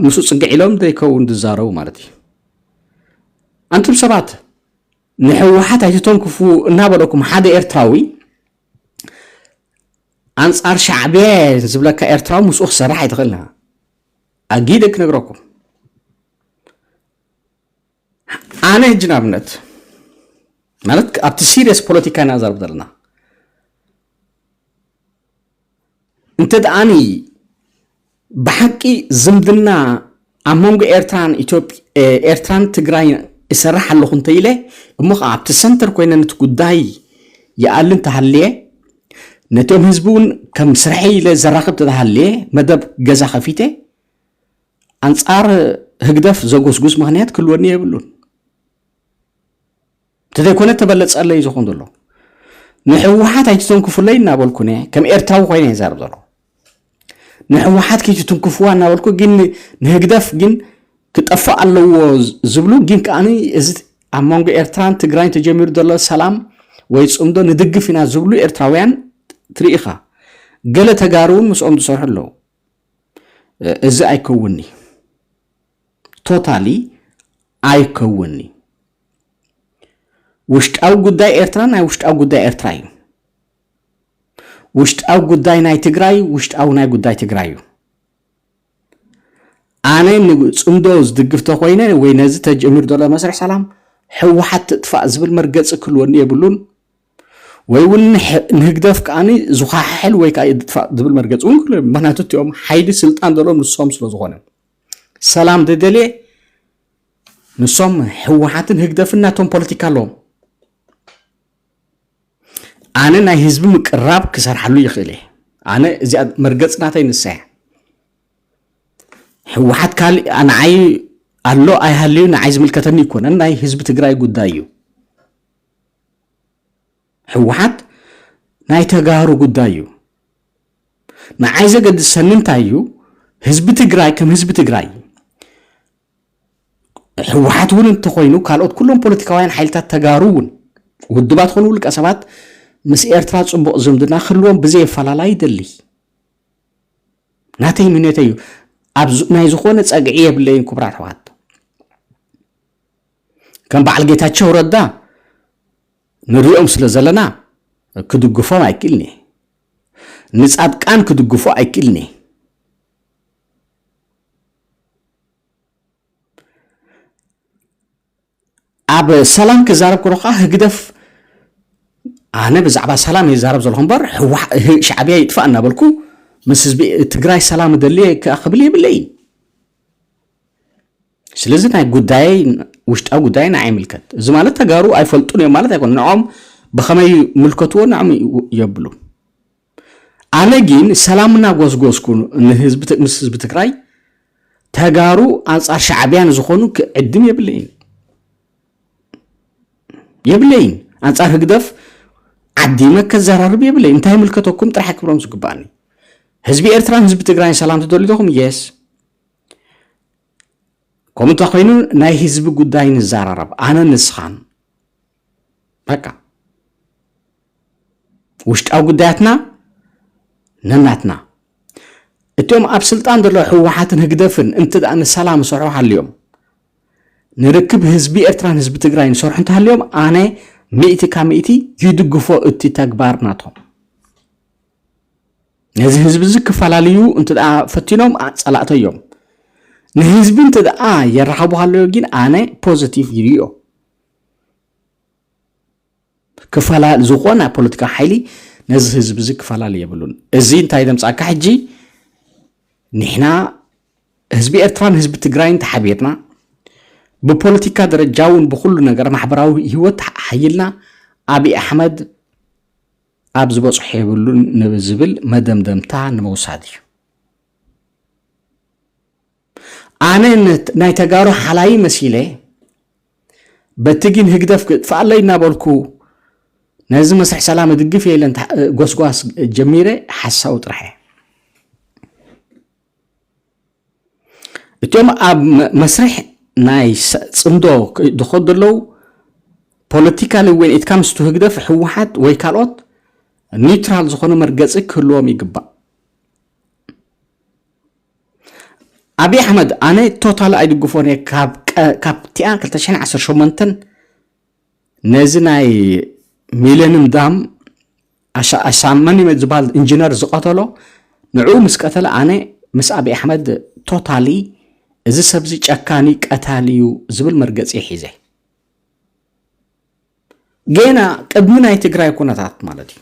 ምስ ፅግዕ ኢሎም ዘይከውን ዝዛረቡ ማለት እዩ ኣንቱም ሰባት ንሕወሓት ኣይትተንክፉ እናበለኩም ሓደ ኤርትራዊ ኣንጻር ሻዕብያ ዝብለካ ኤርትራዊ ምስኡ ክሰርሕ ኣይትኽእልና ኣጊደ ክነግረኩም ኣነ ህጂ ንኣብነት ማለት ኣብቲ ሲሪየስ ፖለቲካ ኢና ዘርብ ዘለና እንተድኣኒ ብሓቂ ዝምድና ኣብ መንጎ ኤርትራን ኤርትራን ትግራይን እሰርሕ ኣለኹ እንተኢለ እሞ ከዓ ኣብቲ ሰንተር ኮይነ ነቲ ጉዳይ ይኣሊ እንተሃልየ ነቶም ህዝቢ እውን ከም ስርሐይ ኢለ ዘራኽብ ተተሃልየ መደብ ገዛ ከፊተ ኣንጻር ህግደፍ ዘጎስጉስ ምክንያት ክህልወኒ የብሉን እንተዘይኮነ ተበለጸለይ እዩ ዝኾን ዘሎ ንሕወሓት ኣይትተንክፉለይ እናበልኩ ነ ከም ኤርትራዊ ኮይነ እየ ዛረብ ዘሎ ንሕወሓት ከይትትንክፍዋ እናበልኩ ግን ንህግደፍ ግን ክጠፍእ ኣለዎ ዝብሉ ግን ከዓኒ እዚ ኣብ መንጎ ኤርትራን ትግራይን ተጀሚሩ ዘሎ ሰላም ወይ ፅምዶ ንድግፍ ኢና ዝብሉ ኤርትራውያን ትርኢኻ ገለ ተጋሩ እውን ምስኦም ዝሰርሑ ኣለዉ እዚ ኣይከውንኒ ቶታሊ ኣይከውን እዩ። ውሽጣዊ ጉዳይ ኤርትራ ናይ ውሽጣዊ ጉዳይ ኤርትራ እዩ። ውሽጣዊ ጉዳይ ናይ ትግራይ ውሽጣዊ ናይ ጉዳይ ትግራይ እዩ። ኣነ ንፅምዶ ዝድግፍ ተኮይነ ወይ ነዚ ተጀሚር ዘሎ መስርሕ ሰላም ሕወሓት ትጥፋእ ዝብል መርገፂ ክህልወኒ የብሉን ወይ እውን ንህግደፍ ከዓኒ ዝኳሓሕል ወይ ከዓ ይጥፋእ ዝብል መርገፂ እውን ክህልዎ ምክንያቱ እቲኦም ሓይሊ ስልጣን ዘለዎም ንሶም ስለ ዝኾነ ሰላም ገገሌ ንሶም ህወሓትን ህግደፍን ናቶም ፖለቲካ ኣለዎም ኣነ ናይ ህዝቢ ምቅራብ ክሰርሓሉ ይኽእል እየ ኣነ እዚኣ መርገፅ ናተይ ንሳ እያ ህወሓት ካሊእ ንዓይ ኣሎ ኣይሃልዩ ንዓይ ዝምልከተኒ ይኮነን ናይ ህዝቢ ትግራይ ጉዳይ እዩ ህወሓት ናይ ተጋሩ ጉዳይ እዩ ንዓይ ዘገድሰኒ እንታይ እዩ ህዝቢ ትግራይ ከም ህዝቢ ትግራይ ህወሓት እውን እንተኮይኑ ካልኦት ኩሎም ፖለቲካውያን ሓይልታት ተጋሩ እውን ውድባት ኮኑ ውልቀ ሰባት ምስ ኤርትራ ፅቡቕ ዝምድና ክህልዎም ብዘየፈላላይ ይደሊ ናተይ ምኔተ እዩ ኣብ ናይ ዝኾነ ፀግዒ የብለይን ክቡራት ኣሕዋት ከም በዓል ጌታቸው ረዳ ንሪኦም ስለ ዘለና ክድግፎም ኣይክእልንየ ንጻድቃን ክድግፎ ኣይክእልንየ ኣብ ሰላም ክዛረብ ከሎ ከዓ ህግደፍ ኣነ ብዛዕባ ሰላም ይዛረብ ዘለኹ እምበር ሻዕብያ ይጥፋእ እናበልኩ ምስ ህዝቢ ትግራይ ሰላም እደልየ ክብል የብለይን ስለዚ ናይ ጉዳይ ውሽጣዊ ጉዳይ ንዓይ ይምልከት እዚ ማለት ተጋሩ ኣይፈልጡን እዮም ማለት ኣይኮነ ንዖም ብኸመይ ምልከትዎ ንዖም የብሉ ኣነ ግን ሰላም እናጎስጎስኩ ንህዝቢ ምስ ህዝቢ ትግራይ ተጋሩ ኣንጻር ሻዕብያ ንዝኾኑ ክዕድም የብለይን የብለይን ኣንጻር ህግደፍ ዓዲመ ከዘራርብ የብለይ እንታይ ምልከተኩም ጥራሕ ክብሎም ዝግባእኒ ህዝቢ ኤርትራን ህዝቢ ትግራይን ሰላም ትደልዩ ዶኹም የስ ከምኡ እንተኮይኑ ናይ ህዝቢ ጉዳይ ንዘራረብ ኣነ ንስኻን በቃ ውሽጣዊ ጉዳያትና ነናትና እቶም ኣብ ስልጣን ዘሎ ህወሓትን ህግደፍን እንት ንሰላም ሰርሑ ሃልዮም ንርክብ ህዝቢ ኤርትራን ህዝቢ ትግራይ ንሰርሑ እንተሃልዮም ኣነ ሚእቲ ካብ ሚእቲ ይድግፎ እቲ ተግባር ናቶም ነዚ ህዝቢ እዚ ክፈላለዩ እንተ ፈቲኖም ፀላእተ እዮም ንህዝቢ እንተ የራኸቡ ሃለዮ ግን ኣነ ፖዘቲቭ ይርዮ ክፈላ ዝኾነ ፖለቲካ ሓይሊ ነዚ ህዝቢ እዚ ክፈላለ የብሉን እዚ እንታይ ዘምፃካ ሕጂ ንሕና ህዝቢ ኤርትራን ህዝቢ ትግራይን ተሓቢርና ብፖለቲካ ደረጃ እውን ብኩሉ ነገር ማሕበራዊ ህይወት ሓይልና ኣብይ ኣሕመድ ኣብ ዝበጽሖ የብሉን ንዝብል መደምደምታ ንምውሳድ እዩ። ኣነ ናይ ተጋሩ ሓላዪ መሲለ በቲ ግን ህግደፍ ክጥፍኣለይ እናበልኩ ነዚ መስርሕ ሰላም እድግፍ እየ ኢለን ጎስጓስ ጀሚረ ሓሳዊ ጥራሕ እየ እቲኦም ኣብ መስርሕ ናይ ፅምዶ ዝኸዱ ዘለዉ ፖለቲካሊ ዌን ኢት ካምስ ቱ ህግደፍ ህወሓት ወይ ካልኦት ኒውትራል ዝኾነ መርገፂ ክህልዎም ይግባእ። ኣብዪ ኣሕመድ ኣነ ቶታል ኣይድግፎን እየ ካብቲኣ 218 ነዚ ናይ ሚለንም ዳም ኣሻመን ይመ ዝበሃል ኢንጂነር ዝቀተሎ ንዑ ምስ ቀተለ ኣነ ምስ ኣብዪ ኣሕመድ ቶታሊ እዚ ሰብዚ ጨካኒ ቀታሊ እዩ ዝብል መርገፂ ሒዘ ገና ቅድሚ ናይ ትግራይ ኩነታት ማለት እዩ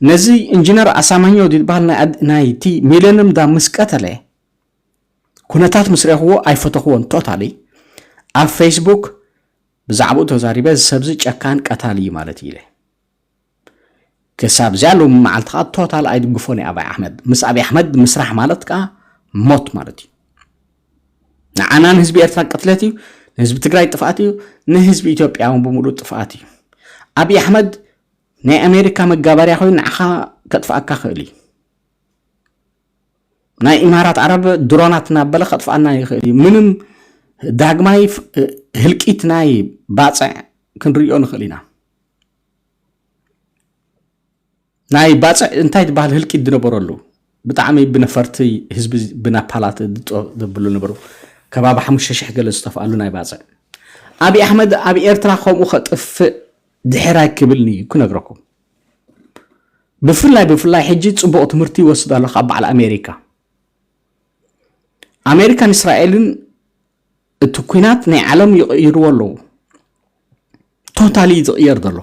ነዚ ኢንጂነር ኣሳማኛው ዝበሃል ናይቲ ሚለንም ዳም ምስ ቀተለ ኩነታት ምስ ረኽዎ ኣይፈተኽዎን ቶታሊ ኣብ ፌስቡክ ብዛዕብኡ ተዛሪበ እዚ ሰብዚ ጨካን ቀታሊ እዩ ማለት እዩ ኢለ ክሳብ እዚኣ ሎሚ መዓልቲ ከዓ ቶታል ኣይድግፎን እዩ ኣብይ ኣሕመድ ምስ ኣብይ ኣሕመድ ምስራሕ ማለት ከዓ ሞት ማለት እዩ ንዓና ንህዝቢ ኤርትራ ቅትለት እዩ ንህዝቢ ትግራይ ጥፍኣት እዩ ንህዝቢ ኢትዮጵያ እውን ብምሉእ ጥፍኣት እዩ ኣብይ ኣሕመድ ናይ ኣሜሪካ መጋበርያ ኮይኑ ንዓኻ ከጥፍኣካ ክእል እዩ ናይ ኢማራት ዓረብ ድሮናት እናበለ ከጥፍኣና ይኽእል እዩ ምንም ዳግማይ ህልቂት ናይ ባፅዕ ክንሪኦ ንኽእል ኢና ናይ ባፅዕ እንታይ ዝበሃል ህልቂት ዝነበረሉ ብጣዕሚ ብነፈርቲ ህዝቢ ብናፓላት ድጦ ዘብሉ ነበሩ ከባቢ ሓሙሽተ ሽሕ ገለ ዝጠፍኣሉ ናይ ባፅዕ ኣብዪ ኣሕመድ ኣብ ኤርትራ ከምኡ ከጥፍእ ድሕራይ ክብልኒ ክነግረኩም ብፍላይ ብፍላይ ሕጂ ጽቡቕ ትምህርቲ ይወስድ ኣሎ ካብ በዓል ኣሜሪካ ኣሜሪካን እስራኤልን እቲ ኩናት ናይ ዓለም ይቕይርዎ ኣለዉ ቶታሊ እዩ ዝቕየር ዘሎ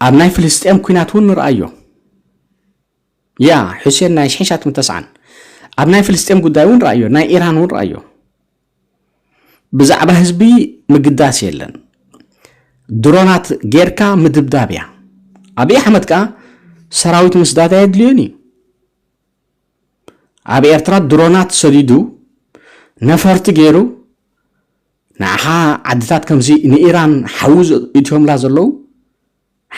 ኣብ ናይ ፍልስጥኤም ኩናት እውን ንርኣዮ ያ ሑሴን ናይ ሽሕን ሻቱን ተስዓን ኣብ ናይ ፍልስጤም ጉዳይ እውን ረኣዮ ናይ ኢራን እውን ረኣዮ ብዛዕባ ህዝቢ ምግዳስ የለን ድሮናት ጌርካ ምድብዳብ እያ ኣብይ ኣሕመድ ከዓ ሰራዊት ምስዳድ ኣየድልዮን እዩ ኣብ ኤርትራ ድሮናት ሰዲዱ ነፈርቲ ገይሩ ንዓኻ ዓድታት ከምዚ ንኢራን ሓዊ እትዮምላ ዘለዉ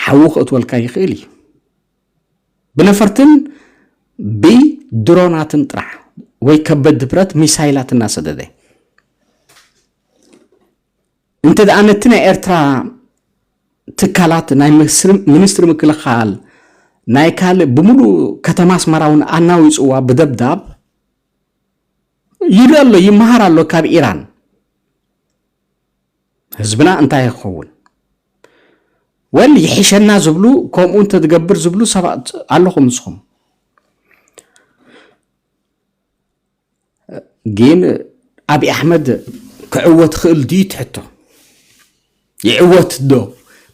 ሓዊ ክእትወልካ ይኽእል እዩ ብነፈርትን ብድሮናትን ጥራሕ ወይ ከበድ ድብረት ሚሳይላት እናሰደደ እንተ ደኣ ነቲ ናይ ኤርትራ ትካላት ናይ ሚኒስትሪ ምክልኻል ናይ ካልእ ብምሉእ ከተማ ኣስመራ እውን ኣናዊፅዋ ብደብዳብ ይርኢ ኣሎ ይመሃር ኣሎ ካብ ኢራን ህዝብና እንታይ ይኸውን ወል ይሕሸና ዝብሉ ከምኡ እንተትገብር ዝብሉ ሰባት ኣለኹም ንስኹም ግን ኣብዪ ኣሕመድ ክዕወት ክእል ድዩ ትሕቶ ይዕወት ዶ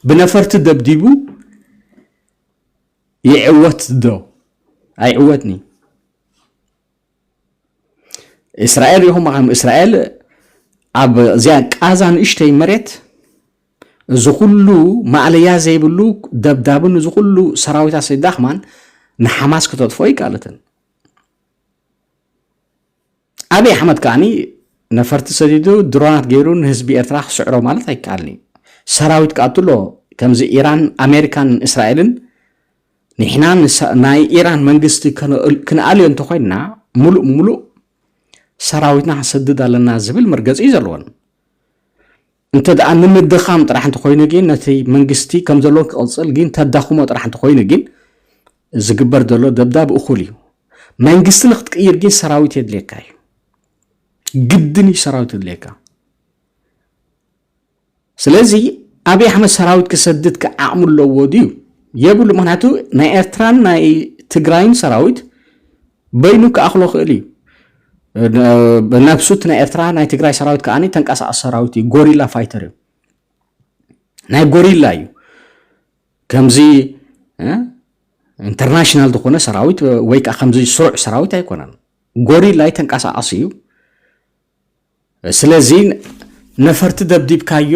ብነፈርቲ ደብዲቡ ይዕወት ዶ ኣይዕወትኒ እስራኤል ይኹም ዓም እስራኤል ኣብ እዚኣ ቃዛ ንእሽተይ መሬት እዚ ኩሉ ማእለያ ዘይብሉ ደብዳብን እዚ ኩሉ ሰራዊታ ስዳኽማን ንሓማስ ክተጥፎ ይቃለተን ኣብዪ ኣሕመድ ከዓኒ ነፈርቲ ሰዲዱ ድሮናት ገይሩ ንህዝቢ ኤርትራ ክስዕሮ ማለት ኣይከኣልን እዩ ሰራዊት ክኣቱ ኣሎ ከምዚ ኢራን ኣሜሪካን እስራኤልን ንሕና ናይ ኢራን መንግስቲ ክንኣልዮ እንተኾይንና ሙሉእ ሙሉእ ሰራዊትና ክንሰድድ ኣለና ዝብል መርገፂ እዩ ዘለወን እንተ ደኣ ንምድኻም ጥራሕ እንተኾይኑ ግን ነቲ መንግስቲ ከም ዘሎ ክቕፅል ግን ተዳኽሞ ጥራሕ እንተኾይኑ ግን ዝግበር ዘሎ ደብዳብ እኹል እዩ መንግስቲ ንክትቅይር ግን ሰራዊት የድልየካ እዩ ግድን እዩ ሰራዊት የድልየካ ስለዚ ኣብይ ኣሕመድ ሰራዊት ክሰድድ ከ ዓቕሚ ኣለዎ ድዩ? የብሉ ምክንያቱ ናይ ኤርትራን ናይ ትግራይን ሰራዊት በይኑ ክኣኽሎ ክእል እዩ ብነብሱ እቲ ናይ ኤርትራ ናይ ትግራይ ሰራዊት ከዓ ተንቀሳቐሲ ሰራዊት እዩ ጎሪላ ፋይተር እዩ ናይ ጎሪላ እዩ ከምዚ ኢንተርናሽናል ዝኾነ ሰራዊት ወይ ከዓ ከምዚ ስሩዕ ሰራዊት ኣይኮነን ጎሪላ ተንቀሳቐሲ እዩ ስለዚ ነፈርቲ ደብዲብካዮ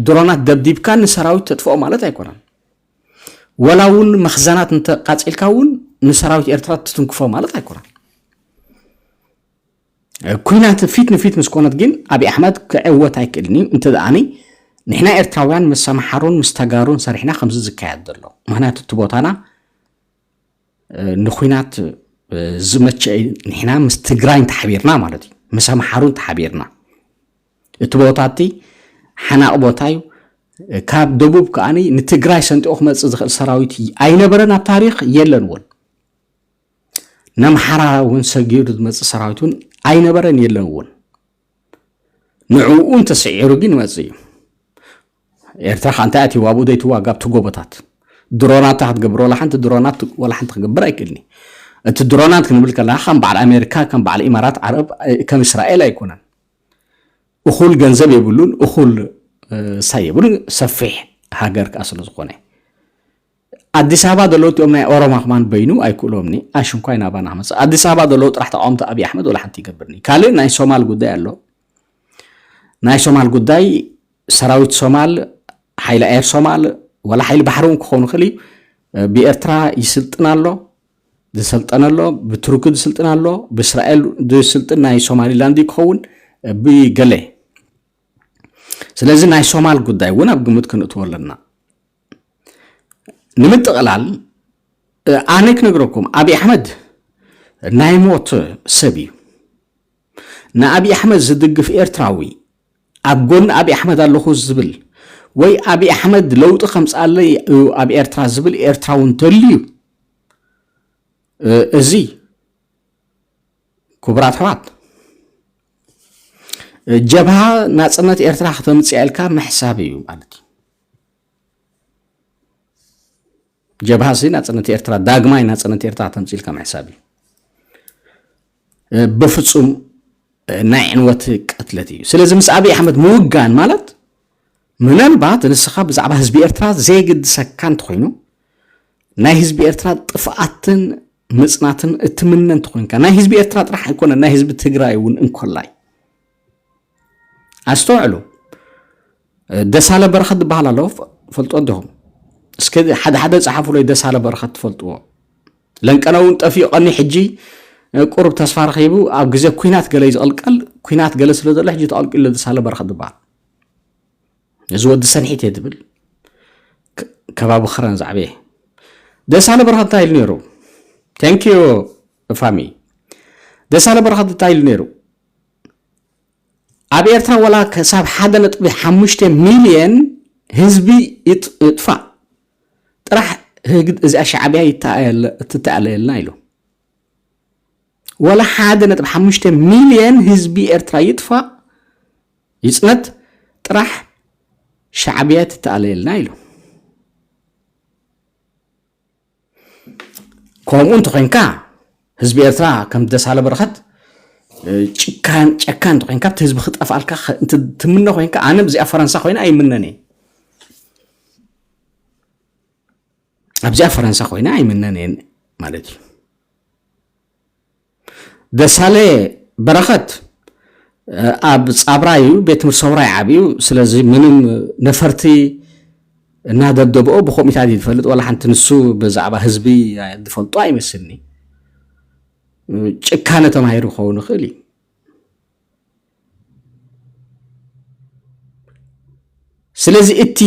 ድሮናት ደብዲብካ ንሰራዊት ተጥፍኦ ማለት ኣይኮነን ወላ እውን መኽዘናት እንተቃፂልካ እውን ንሰራዊት ኤርትራ ትትንክፎ ማለት ኣይኮነን ኩናት ፊት ንፊት ምስ ኮነት ግን ኣብዪ ኣሕመድ ክዕወት ኣይክእልን እዩ እንተ ደኣኒ ንሕና ኤርትራውያን ምስ ኣምሓሩን ምስ ተጋሩን ሰሪሕና ከምዚ ዝካየድ ዘሎ ምክንያቱ እቲ ቦታና ንኩናት ዝመቸ ንሕና ምስ ትግራይ እንተሓቢርና ማለት እዩ ምስ ኣምሓሩ እንተሓቢርና እቲ ቦታ እቲ ሓናቕ ቦታ እዩ ካብ ደቡብ ከዓ ንትግራይ ሰንጢቑ ክመፅእ ዝኽእል ሰራዊት ኣይነበረን ኣብ ታሪክ የለን እውን ነምሓራ እውን ሰጊሩ ዝመፅእ ሰራዊት እውን ኣይነበረን የለን እውን ንዕኡ እንተስዒሩ ግን ይመፅእ እዩ ኤርትራ ከዓ እንታይ ኣትይዋ ኣብኡ ዘይትዋጋ ኣብቲ ጎቦታት ድሮናት ክትገብር ዋላ ሓንቲ ድሮናት ዋላ ሓንቲ ክገብር ኣይክእልኒ እቲ ድሮናት ክንብል ከለና ከም በዓል ኣሜሪካ ከም በዓል ኢማራት ዓረብ ከም እስራኤል ኣይኮነን እኹል ገንዘብ የብሉን እኹል ሳይ የብሉን ሰፊሕ ሃገር ከዓ ስለ ዝኾነ ኣዲስ ኣበባ ዘለዉ እቲኦም ናይ ኦሮማ ክማን በይኑ ኣይክእሎምኒ ኣሽንኳይ ናባና ክመፅእ ኣዲስ ኣበባ ዘለዉ ጥራሕ ተቃወምቲ ኣብዪ ኣሕመድ ወላ ሓንቲ ይገብርኒ ካልእ ናይ ሶማል ጉዳይ ኣሎ ናይ ሶማል ጉዳይ ሰራዊት ሶማል ሓይሊ ኣየር ሶማል ወላ ሓይሊ ባሕሪ እውን ክኸውን ይኽእል እዩ ብኤርትራ ይስልጥን ኣሎ ዝሰልጠነ ኣሎ ብቱርኪ ዝስልጥን ኣሎ ብእስራኤል ዝስልጥን ናይ ሶማሊላንድ ክኸውን ብገለ ስለዚ ናይ ሶማል ጉዳይ እውን ኣብ ግምት ክንእትዎ ኣለና ንምጥቕላል ኣነ ክነግረኩም ኣብዪ ኣሕመድ ናይ ሞት ሰብ እዩ ንኣብዪ ኣሕመድ ዝድግፍ ኤርትራዊ ኣብ ጎኒ ኣብዪ ኣሕመድ ኣለኹ ዝብል ወይ ኣብዪ ኣሕመድ ለውጢ ከምፃለይ እዩ ኣብ ኤርትራ ዝብል ኤርትራዊ እንተልዩ እዚ ክቡራት ኣሕዋት ጀብሃ ናፅነት ኤርትራ ክተምፅእ ኢልካ ምሕሳብ እዩ ማለት እዩ ጀብሃ ሲ ናፅነት ኤርትራ ዳግማይ ናፅነት ኤርትራ ተምፂልካ ምሕሳብ እዩ በፍፁም ናይ ዕንወት ቅትለት እዩ ስለዚ ምስ ኣብዪ ኣሕመድ ምውጋን ማለት ምናልባት ንስኻ ብዛዕባ ህዝቢ ኤርትራ ዘይግድሰካ እንተኮይኑ ናይ ህዝቢ ኤርትራ ጥፍኣትን ምፅናትን እትምነ እንተኮይንካ ናይ ህዝቢ ኤርትራ ጥራሕ ኣይኮነ ናይ ህዝቢ ትግራይ እውን እንኮላይ ኣስተውዕሉ ደሳለ በረኸት ዝበሃል ኣሎ ፈልጦ ዲኹም እስከ ሓደ ሓደ ፀሓፉለይ ደሳለ በረኸት ትፈልጥዎ ለንቀነ እውን ጠፊኡ ቀኒ ሕጂ ቁሩብ ተስፋ ረኺቡ ኣብ ግዜ ኩናት ገለ እዩ ዝቕልቀል ኩናት ገለ ስለ ዘሎ ሕጂ ተቐልቂሉ ደሳለ በረኸት ዝበሃል እዚ ወዲ ሰንሒት እየ ትብል ከባቢ ክረን ዛዕበየ ደሳለ በረኸት እንታይ ኢሉ ነይሩ ተንኪዩ ፋሚ ደሳለ በረኸት እንታይ ኢሉ ነይሩ ኣብ ኤርትራ ወላ ክሳብ ሓደ ነጥቢ ሓሙሽተ ሚልየን ህዝቢ ይጥፋእ ጥራሕ ህግ እዚኣ ሻዕብያ ትተኣለየልና ኢሉ ወላ ሓደ ነጥቢ ሓሙሽተ ሚልየን ህዝቢ ኤርትራ ይጥፋእ ይፅነት ጥራሕ ሻዕብያ ትተኣለየልና ኢሉ ከምኡ እንተኮይንካ ህዝቢ ኤርትራ ከም ደሳለ በረኸት ጭካን ጨካን እንተኮይንካ እቲ ህዝቢ ክጠፍኣልካ ትምነ ኮይንካ ኣነ እዚኣ ፈረንሳ ኮይነ ኣይምነን እየ ኣብዚኣ ፈረንሳ ኮይነ ኣይምነን እየ ማለት እዩ ደሳለ በረኸት ኣብ ጻብራ እዩ ቤት ትምህርቲ ሰውራ ይዓብዩ ስለዚ ምንም ነፈርቲ እናደብደብኦ ብኮሚታት እዩ ዝፈልጥ ዋላ ሓንቲ ንሱ ብዛዕባ ህዝቢ ዝፈልጦ ኣይመስልኒ ጭካነ ተማሂሩ ክኸውን ይኽእል እዩ ስለዚ እቲ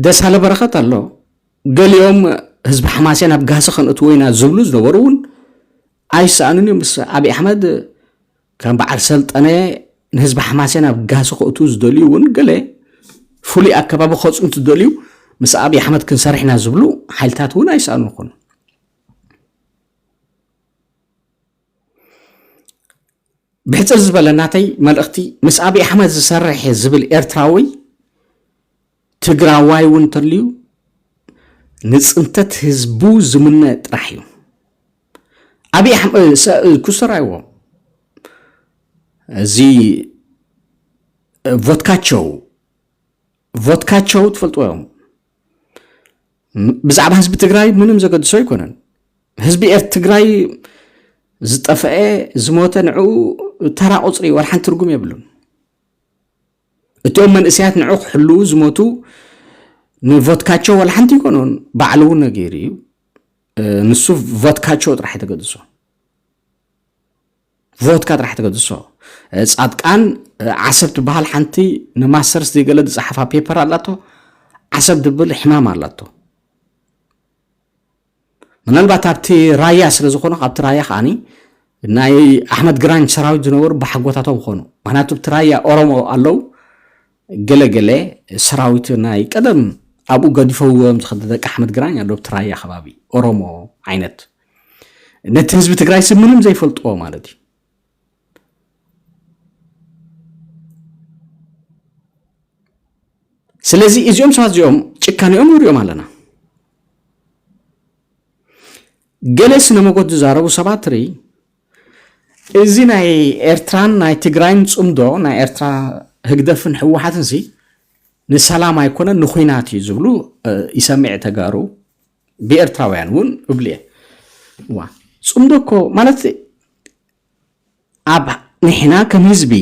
ደሳለ በረኸት ኣሎ ገሊኦም ህዝቢ ሓማሴን ኣብ ጋህሲ ከንእትዎ ኢና ዝብሉ ዝነበሩ እውን ኣይሰኣኑን እዮም ምስ ኣብዪ ኣሕመድ ከም በዓል ሰልጠነ ንህዝቢ ሓማሴን ኣብ ጋህሲ ከእቱ ዝደልዩ እውን ገለ ፍሉይ ኣከባቢ ከፁ እንትደልዩ ምስ ኣብዪ ኣሕመድ ክንሰርሕ ኢና ዝብሉ ሓይልታት እውን ኣይሰኣኑ ይኾኑ ብሕጽር ዝበለ ናተይ መልእኽቲ ምስ ኣብይ ኣሕመድ ዝሰርሕ እየ ዝብል ኤርትራዊ ትግራዋይ እውን እንተልዩ ንፅንተት ህዝቡ ዝምነ ጥራሕ እዩ ኣብይ ኣሕመድ ኩስተር ኣይዎ እዚ ቮትካቸው ቮትካቸው ትፈልጥዎ እዮም ብዛዕባ ህዝቢ ትግራይ ምንም ዘገድሶ ኣይኮነን ህዝቢ ኤር ትግራይ ዝጠፈአ ዝሞተ ንዕኡ ተራ ቁፅሪ ወርሓን ትርጉም የብሉን እቲኦም መንእሰያት ንዑ ክሕልዉ ዝሞቱ ንቮትካቸው ወላ ሓንቲ ይኮኑን ባዕሉ እውን ነጊሩ እዩ ንሱ ቮትካቸው ጥራሕ ተገድሶ ቮትካ ጥራሕ ተገድሶ ጻድቃን ዓሰብ ትበሃል ሓንቲ ንማስተርስ ዘይገለ ዝጸሓፋ ፔፐር ኣላቶ ዓሰብ ድብል ሕማም ኣላቶ ምናልባት ኣብቲ ራያ ስለ ዝኾኑ ካብቲ ራያ ከዓኒ ናይ ኣሕመድ ግራኝ ሰራዊት ዝነበሩ ብሓጎታቶም ክኾኑ ምክንያቱ ኣብቲ ራያ ኦሮሞ ኣለው ገለገለ ሰራዊት ናይ ቀደም ኣብኡ ገዲፈዎም ዝኸደ ደቂ ኣሕመድ ግራኝ ኣሎ ኣብቲ ራያ ከባቢ ኦሮሞ ዓይነት ነቲ ህዝቢ ትግራይ ስብ ምንም ዘይፈልጥዎ ማለት እዩ ስለዚ እዚኦም ሰባት እዚኦም ጭካኔኦም ንሪኦም ኣለና ገለ ስነ መጎት ዝዛረቡ ሰባት ርኢ እዚ ናይ ኤርትራን ናይ ትግራይን ፅምዶ ናይ ኤርትራ ህግደፍን ህወሓትን ሲ ንሰላም ኣይኮነን ንኩናት እዩ ዝብሉ ይሰምዕ ተጋሩ ብኤርትራውያን እውን እብሉ እየ እዋ ፅምዶ እኮ ማለት ኣብ ንሕና ከም ህዝቢ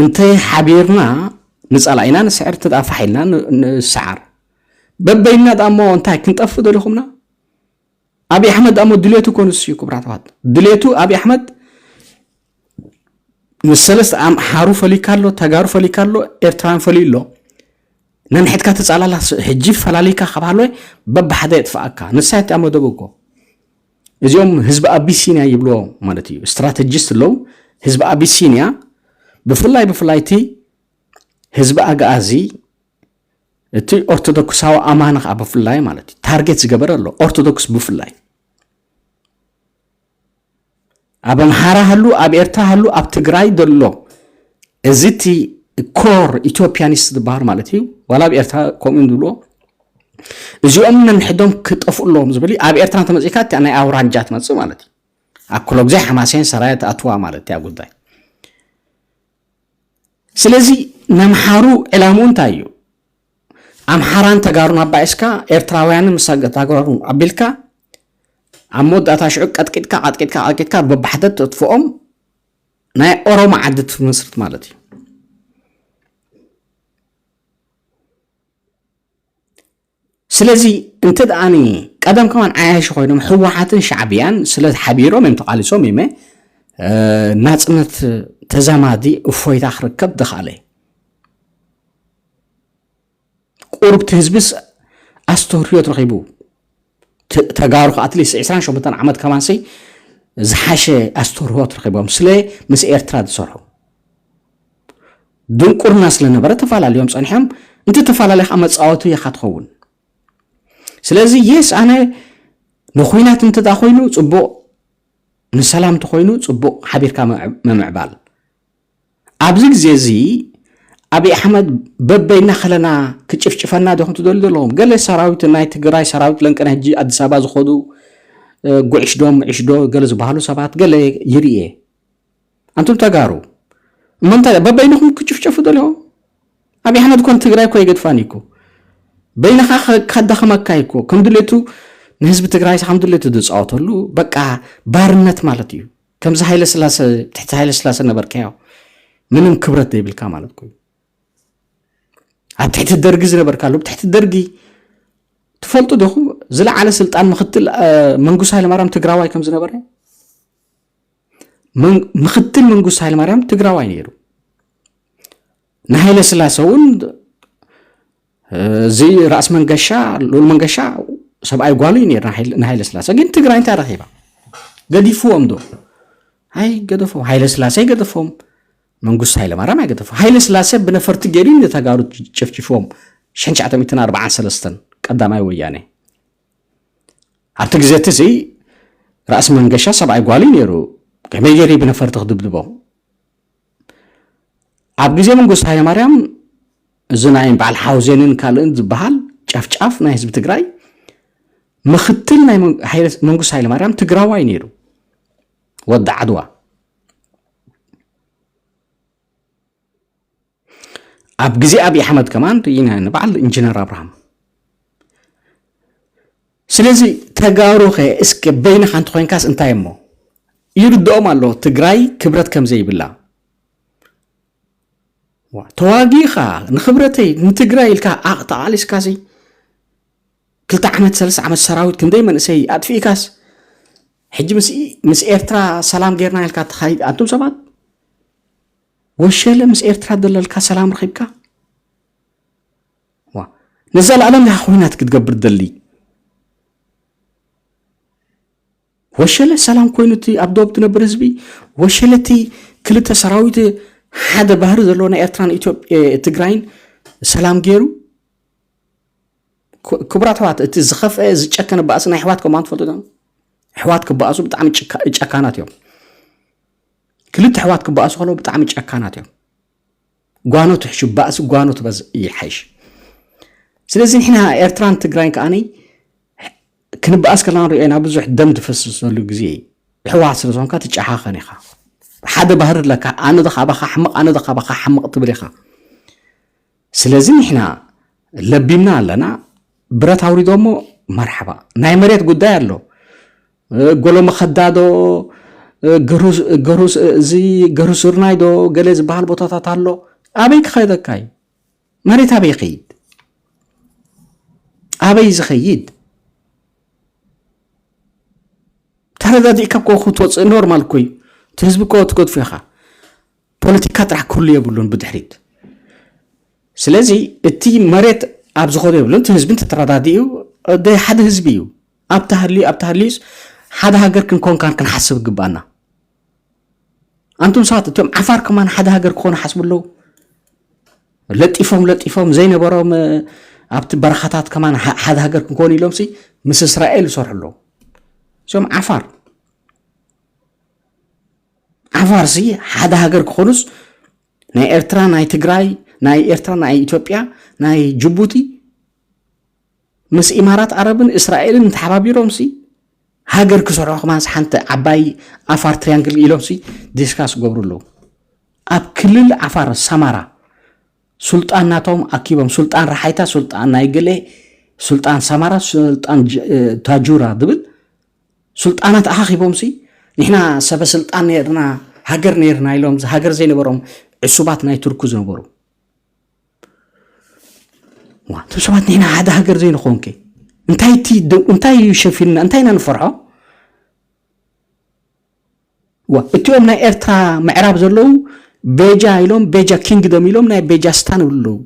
እንተ ሓቢርና ንፀላኢና ንስዕር እንተ ፋሕ ኢልና ንሰዓር በበይና ዳሞ እንታይ ክንጠፍእ ደሊኹምና ኣብዪ ኣሕመድ ዳሞ ድሌቱ ኮንስ እዩ ክብራት ዋት ድሌቱ ኣብዪ ኣሕመድ ምስ ሰለስተ ኣምሓሩ ፈሊካ ኣሎ ተጋሩ ፈሊካ ኣሎ ኤርትራን ፈልዩ ኣሎ ነንሕትካ ትጻላላ ሕጂ ፈላሊካ ካብ ሃለወ በብሓደ የጥፍኣካ ንሳይ እቲኣ መደቡ እኮ እዚኦም ህዝቢ ኣቢሲንያ ይብልዎ ማለት እዩ ስትራተጂስት ኣለዉ ህዝቢ ኣቢሲንያ ብፍላይ ብፍላይ እቲ ህዝቢ ኣግኣዚ እቲ ኦርቶዶክሳዊ ኣማኒ ከዓ ብፍላይ ማለት እዩ ታርጌት ዝገበረ ኣሎ ኦርቶዶክስ ብፍላይ ኣብ ኣምሓራ ሃሉ ኣብ ኤርትራ ሃሉ ኣብ ትግራይ ዘሎ እዚ እቲ ኮር ኢትዮፕያኒስት ዝበሃል ማለት እዩ ዋላ ኣብ ኤርትራ ከምኡ ዝብልዎ እዚኦም ነንሕዶም ክጠፍኡ ኣለዎም ዝብል ኣብ ኤርትራ እንተመፂእካ እቲኣ ናይ ኣውራጃ ትመፅእ ማለት እዩ ኣብ ኩሎ ግዜ ሓማሴን ሰራየ ትኣትዋ ማለት እያ ጉዳይ ስለዚ ነምሓሩ ዕላምኡ እንታይ እዩ ኣምሓራን ተጋሩን ኣባኢስካ ኤርትራውያንን ምሳ ተጋሩ ኣቢልካ ኣብ መወዳእታ ሽዑ ቀጥቂጥካ ቀጥቂጥካ ቀጥቂጥካ በባሕተ ተጥፍኦም ናይ ኦሮሞ ዓዲ ትመስርት ማለት እዩ ስለዚ እንተ ደኣኒ ቀደም ከማን ዓያሽ ኮይኖም ህወሓትን ሻዕብያን ስለ ሓቢሮም እዮም ተቓሊሶም እዩመ ናፅነት ተዛማዲ እፎይታ ክርከብ ድኻለ ቁሩብ እቲ ህዝቢስ ኣስተርህዮት ረኺቡ ተጋሩ ከዓ ኣትሊስት ዕስራን ሸሞንተን ዓመት ከማንሲ ዝሓሸ ኣስተርህዮት ረኺቦም ስለ ምስ ኤርትራ ዝሰርሑ ድንቁርና ስለነበረ ተፈላለዮም ፀኒሖም እንተ ተፈላለዩ ከዓ መፃወቲ ኢኻ ትኸውን ስለዚ የስ ኣነ ንኩናት እንተ ኮይኑ ፅቡቕ ንሰላም እንተኮይኑ ፅቡቕ ሓቢርካ ምምዕባል ኣብዚ ግዜ እዚ ኣብይ ኣሕመድ በበይና ከለና ክጭፍጭፈና ዲኹም ትደልዩ ዘለኹም ገለ ሰራዊት ናይ ትግራይ ሰራዊት ለንቅነ ሕጂ ኣዲስ ኣበባ ዝኸዱ ጉዕሽዶ ምዕሽዶ ገለ ዝበሃሉ ሰባት ገለ ይርኤ ኣንቱም ተጋሩ እመንታይ በበይንኹም ክጭፍጨፉ ደልዮም ኣብይ ኣሕመድ ኮን ትግራይ እኮ ይገድፋን እኮ በይንኻ ካዳኸመካ እኮ ከም ድሌቱ ንህዝቢ ትግራይ ከም ድሌቱ ዝፃወተሉ በቃ ባርነት ማለት እዩ ከምዚ ሃይለ ስላሰ ትሕቲ ሃይለ ስላሰ ነበርካዮ ምንም ክብረት ዘይብልካ ማለት ኮይኑ ኣብ ትሕቲ ደርጊ ዝነበርካ ኣሎ ትሕቲ ደርጊ ትፈልጡ ዲኹም ዝለዓለ ስልጣን ምክትል መንግስቱ ሃይለማርያም ትግራዋይ ከም ዝነበረ ምክትል መንግስቱ ሃይለማርያም ትግራዋይ ነይሩ ንሃይለስላሰ እውን እዚ ራእስ መንገሻ ሉል መንገሻ ሰብኣይ ጓሉ እዩ ነር ንሃይለስላሰ ግን ትግራይ እንታይ ረኪባ ገዲፍዎም ዶ ኣይ ገደፎም ሃይለስላሰ ይገደፎም መንግስቱ ሃይለማርያም ኣይገደፎ ሃይለስላሰ ብነፈርቲ ገይሩ ንተጋሩ ጨፍጭፎም 943 ቀዳማይ ወያነ ኣብቲ ግዜ እቲ እዚ ራእሲ መንገሻ ሰብኣይ ጓሉ እዩ ነይሩ ከመይ ገይሩ ብነፈርቲ ክድብድቦ ኣብ ግዜ መንግስቱ ሃይለማርያም እዚ ናይ በዓል ሓውዜንን ካልእን ዝበሃል ጨፍጫፍ ናይ ህዝቢ ትግራይ ምክትል ናይ መንግስቱ ሃይለማርያም ትግራዋይ ነይሩ ወዲ ዓድዋ ኣብ ግዜ ኣብዪ ኣሕመድ ከማን ንበዓል ኢንጂነር ኣብርሃም ስለዚ ተጋሩኸ እስከ በይንኻ እንተኾይንካስ እንታይ እሞ ይርድኦም ኣሎ ትግራይ ክብረት ከምዘይብላ ተዋጊኻ ንክብረተይ ንትግራይ ኢልካ ዓቕ ተቓሊስካሲ ክልተ ዓመት ሰለስተ ዓመት ሰራዊት ክንደይ መንእሰይ ኣጥፊእካስ ሕጂ ምስ ኤርትራ ሰላም ጌርና ኢልካ ተኻይድ ኣንቱም ሰባት ወሸለ ምስ ኤርትራ ዘለልካ ሰላም ረኺብካ ዋእ ንዘላኣለም ዲካ ኩናት ክትገብር ትደሊ ወሸለ ሰላም ኮይኑ እቲ ኣብ ዶብ ትነብር ህዝቢ ወሸለ እቲ ክልተ ሰራዊት ሓደ ባህሪ ዘለዎ ናይ ኤርትራን ትግራይን ሰላም ገይሩ ክቡራት ኣሕዋት እቲ ዝኸፍአ ዝጨከነ ባእሲ ናይ ኣሕዋት ከማን ትፈልጡ ዶ ኣሕዋት ክበኣሱ ብጣዕሚ ጨካናት እዮም ክልተ ኣሕዋት ክበኣሱ ከለዉ ብጣዕሚ ጨካናት እዮም ጓኖት ሕሹ ባእሲ ጓኖት በዝ ይሓይሽ ስለዚ ንሕና ኤርትራን ትግራይን ከዓኒ ክንበኣስ ከለና ንሪኦ ኢና ብዙሕ ደም ዝፈስሰሉ ግዜ እዩ ሕወሓት ስለ ዝኾንካ ትጨሓኸን ኢኻ ሓደ ባህሪ ኣለካ ኣነ ዘኻባኻ ሕመቕ ኣነ ዘኻባኻ ሕመቕ ትብል ኢኻ ስለዚ ንሕና ለቢምና ኣለና ብረት ኣውሪዶ እሞ መርሓባ ናይ መሬት ጉዳይ ኣሎ ጎሎ መኸዳ ዶ እዚ ገሩ ስርናይ ዶ ገለ ዝበሃል ቦታታት ኣሎ ኣበይ ክኸደካ እዩ መሬት ኣበይ ይኸይድ ኣበይ ዝኸይድ ተረዳዲእካ እኮ ክትወፅእ ኖርማል እኮ እዩ እቲ ህዝቢ እኮ ትገድፎ ኢኻ ፖለቲካ ጥራሕ ክህሉ የብሉን ብድሕሪት ስለዚ እቲ መሬት ኣብ ዝኾነ የብሉን እቲ ህዝቢ ተተረዳዲኡ ሓደ ህዝቢ እዩ ኣብቲ ሃልዩ ኣብቲ ሃልዩስ ሓደ ሃገር ክንኮንካን ክንሓስብ ግባና ኣንቱም ሰባት እቶም ዓፋር ከማን ሓደ ሃገር ክኾኑ ሓስቡ ኣለዉ ለጢፎም ለጢፎም ዘይነበሮም ኣብቲ በረኻታት ከማን ሓደ ሃገር ክንኮኑ ኢሎም ሲ ምስ እስራኤል ይሰርሑ ኣለዉ እዚኦም ዓፋር ዓፋር ሲ ሓደ ሃገር ክኾኑስ ናይ ኤርትራ ናይ ትግራይ ናይ ኤርትራ ናይ ኢትዮጵያ ናይ ጅቡቲ ምስ ኢማራት ዓረብን እስራኤልን ተሓባቢሮምሲ ሃገር ክሰርሑ ከማንስ ሓንቲ ዓባይ ዓፋር ትሪያንግል ኢሎምሲ ዲስካስ ገብሩ ኣለዉ ኣብ ክልል ዓፋር ሰማራ ሱልጣን ናቶም ኣኪቦም ሱልጣን ረሓይታ ሱልጣን ናይ ገለ ሱልጣን ሰማራ ሱልጣን ታጁራ ዝብል ሱልጣናት ኣኻኺቦምሲ ንሕና ሰበ ስልጣን ነርና ሃገር ነርና ኢሎም ሃገር ዘይነበሮም ዕሱባት ናይ ቱርኩ ዝነበሩ እቶም ሰባት ንሕና ሓደ ሃገር ዘይንኸውን ከ እንታይ እቲ እንታይ እዩ ሸፊንና እንታይ ኢና ንፈርሖ ዋ እቲኦም ናይ ኤርትራ ምዕራብ ዘለዉ ቤጃ ኢሎም ቤጃ ኪንግደም ኢሎም ናይ ቤጃ ስታን ይብሉ ኣለዉ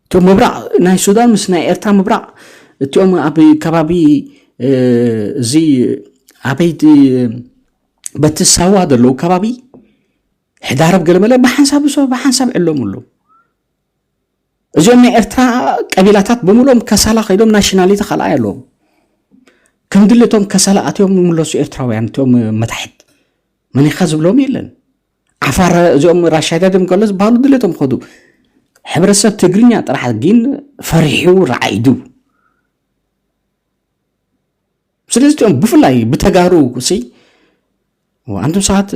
እቶም ምብራቕ ናይ ሱዳን ምስ ናይ ኤርትራ ምብራቕ እቲኦም ኣብ ከባቢ እዚ ኣበይቲ በቲ ሳዋ ዘለዉ ከባቢ ሕዳርብ ገለመለ ብሓንሳብ ዝሰ ብሓንሳብ ዕለምሉ እዚኦም ናይ ኤርትራ ቀቢላታት ብምሎም ከሳላ ከይዶም ናሽናሊቲ ካልኣይ ኣለዎም ከም ድሊ እቶም ከሳላ ኣትዮም ምለሱ ኤርትራውያን እቶም መታሕት መኒኻ ዝብሎም የለን ዓፋር እዚኦም ራሻዳድም ከሎ ዝበሃሉ ድሌቶም ከዱ ሕብረተሰብ ትግርኛ ጥራሕ ግን ፈሪሑ ረዓይዱ ስለዚ እም ብፍላይ ብተጋሩ ሲ ኣንቱም ሰባት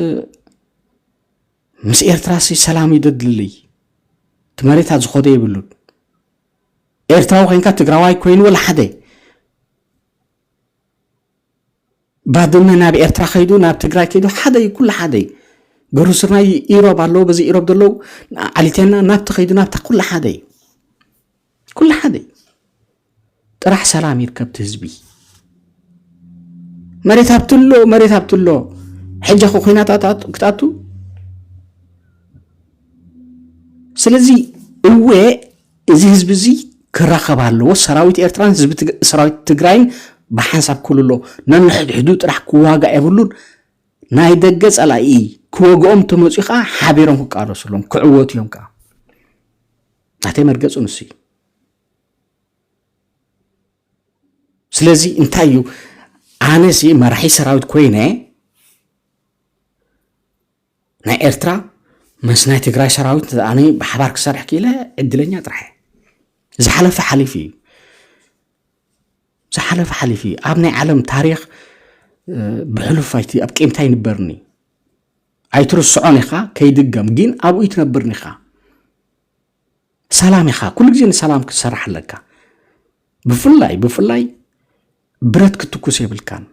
ምስ ኤርትራ ሲ ሰላም ይደድልይ እቲ መሬታ ዝኾደ ይብሉን ኤርትራዊ ኮንካ ትግራዋይ ኮይኑ ወላ ሓደ ባድመ ናብ ኤርትራ ከይዱ ናብ ትግራይ ከይዱ ሓደ እዩ ኩሉ ሓደ እዩ ገሩ ስርናይ ኢሮብ ኣለዎ በዚ ኢሮብ ዘለዉ ዓሊቴና ናብቲ ከይዱ ናብታ ኩሉ ሓደ እዩ ኩሉ ሓደ እዩ ጥራሕ ሰላም ይርከብ እቲ ህዝቢ መሬት ሃብትሎ መሬት ሃብትሎ ሕጂ ከ ኩናት ክትኣቱ ስለዚ እወ እዚ ህዝቢ እዚ ክራኸብ ኣለዎ ሰራዊት ኤርትራን ህዝቢ ሰራዊት ትግራይን ብሓንሳብ ክልሎ ነንሕድሕዱ ጥራሕ ክዋጋእ የብሉን ናይ ደገ ጸላኢ ክወግኦም ተመፅኡ ከዓ ሓቢሮም ክቃለሱ ኣለዎም ክዕወቱ እዮም ከዓ ናተይ መርገጹ ንሱ እዩ ስለዚ እንታይ እዩ ኣነሲ መራሒ ሰራዊት ኮይነ ናይ ኤርትራ ምስ ናይ ትግራይ ሰራዊት ኣነ ብሓባር ክሰርሕ ክኢለ ዕድለኛ ጥራሕ ዝሓለፈ ሓሊፉ እዩ ዝሓለፈ ሓሊፉ እዩ ኣብ ናይ ዓለም ታሪክ ብሕሉፍ ኣይቲ ኣብ ቂምታ ይንበርኒ ኣይትርስዖን ኢኻ ከይድገም ግን ኣብኡ ይትነብርን ኢኻ ሰላም ኢኻ ኩሉ ግዜ ንሰላም ክትሰርሕ ኣለካ ብፍላይ ብፍላይ ብረት ክትኩስ የብልካን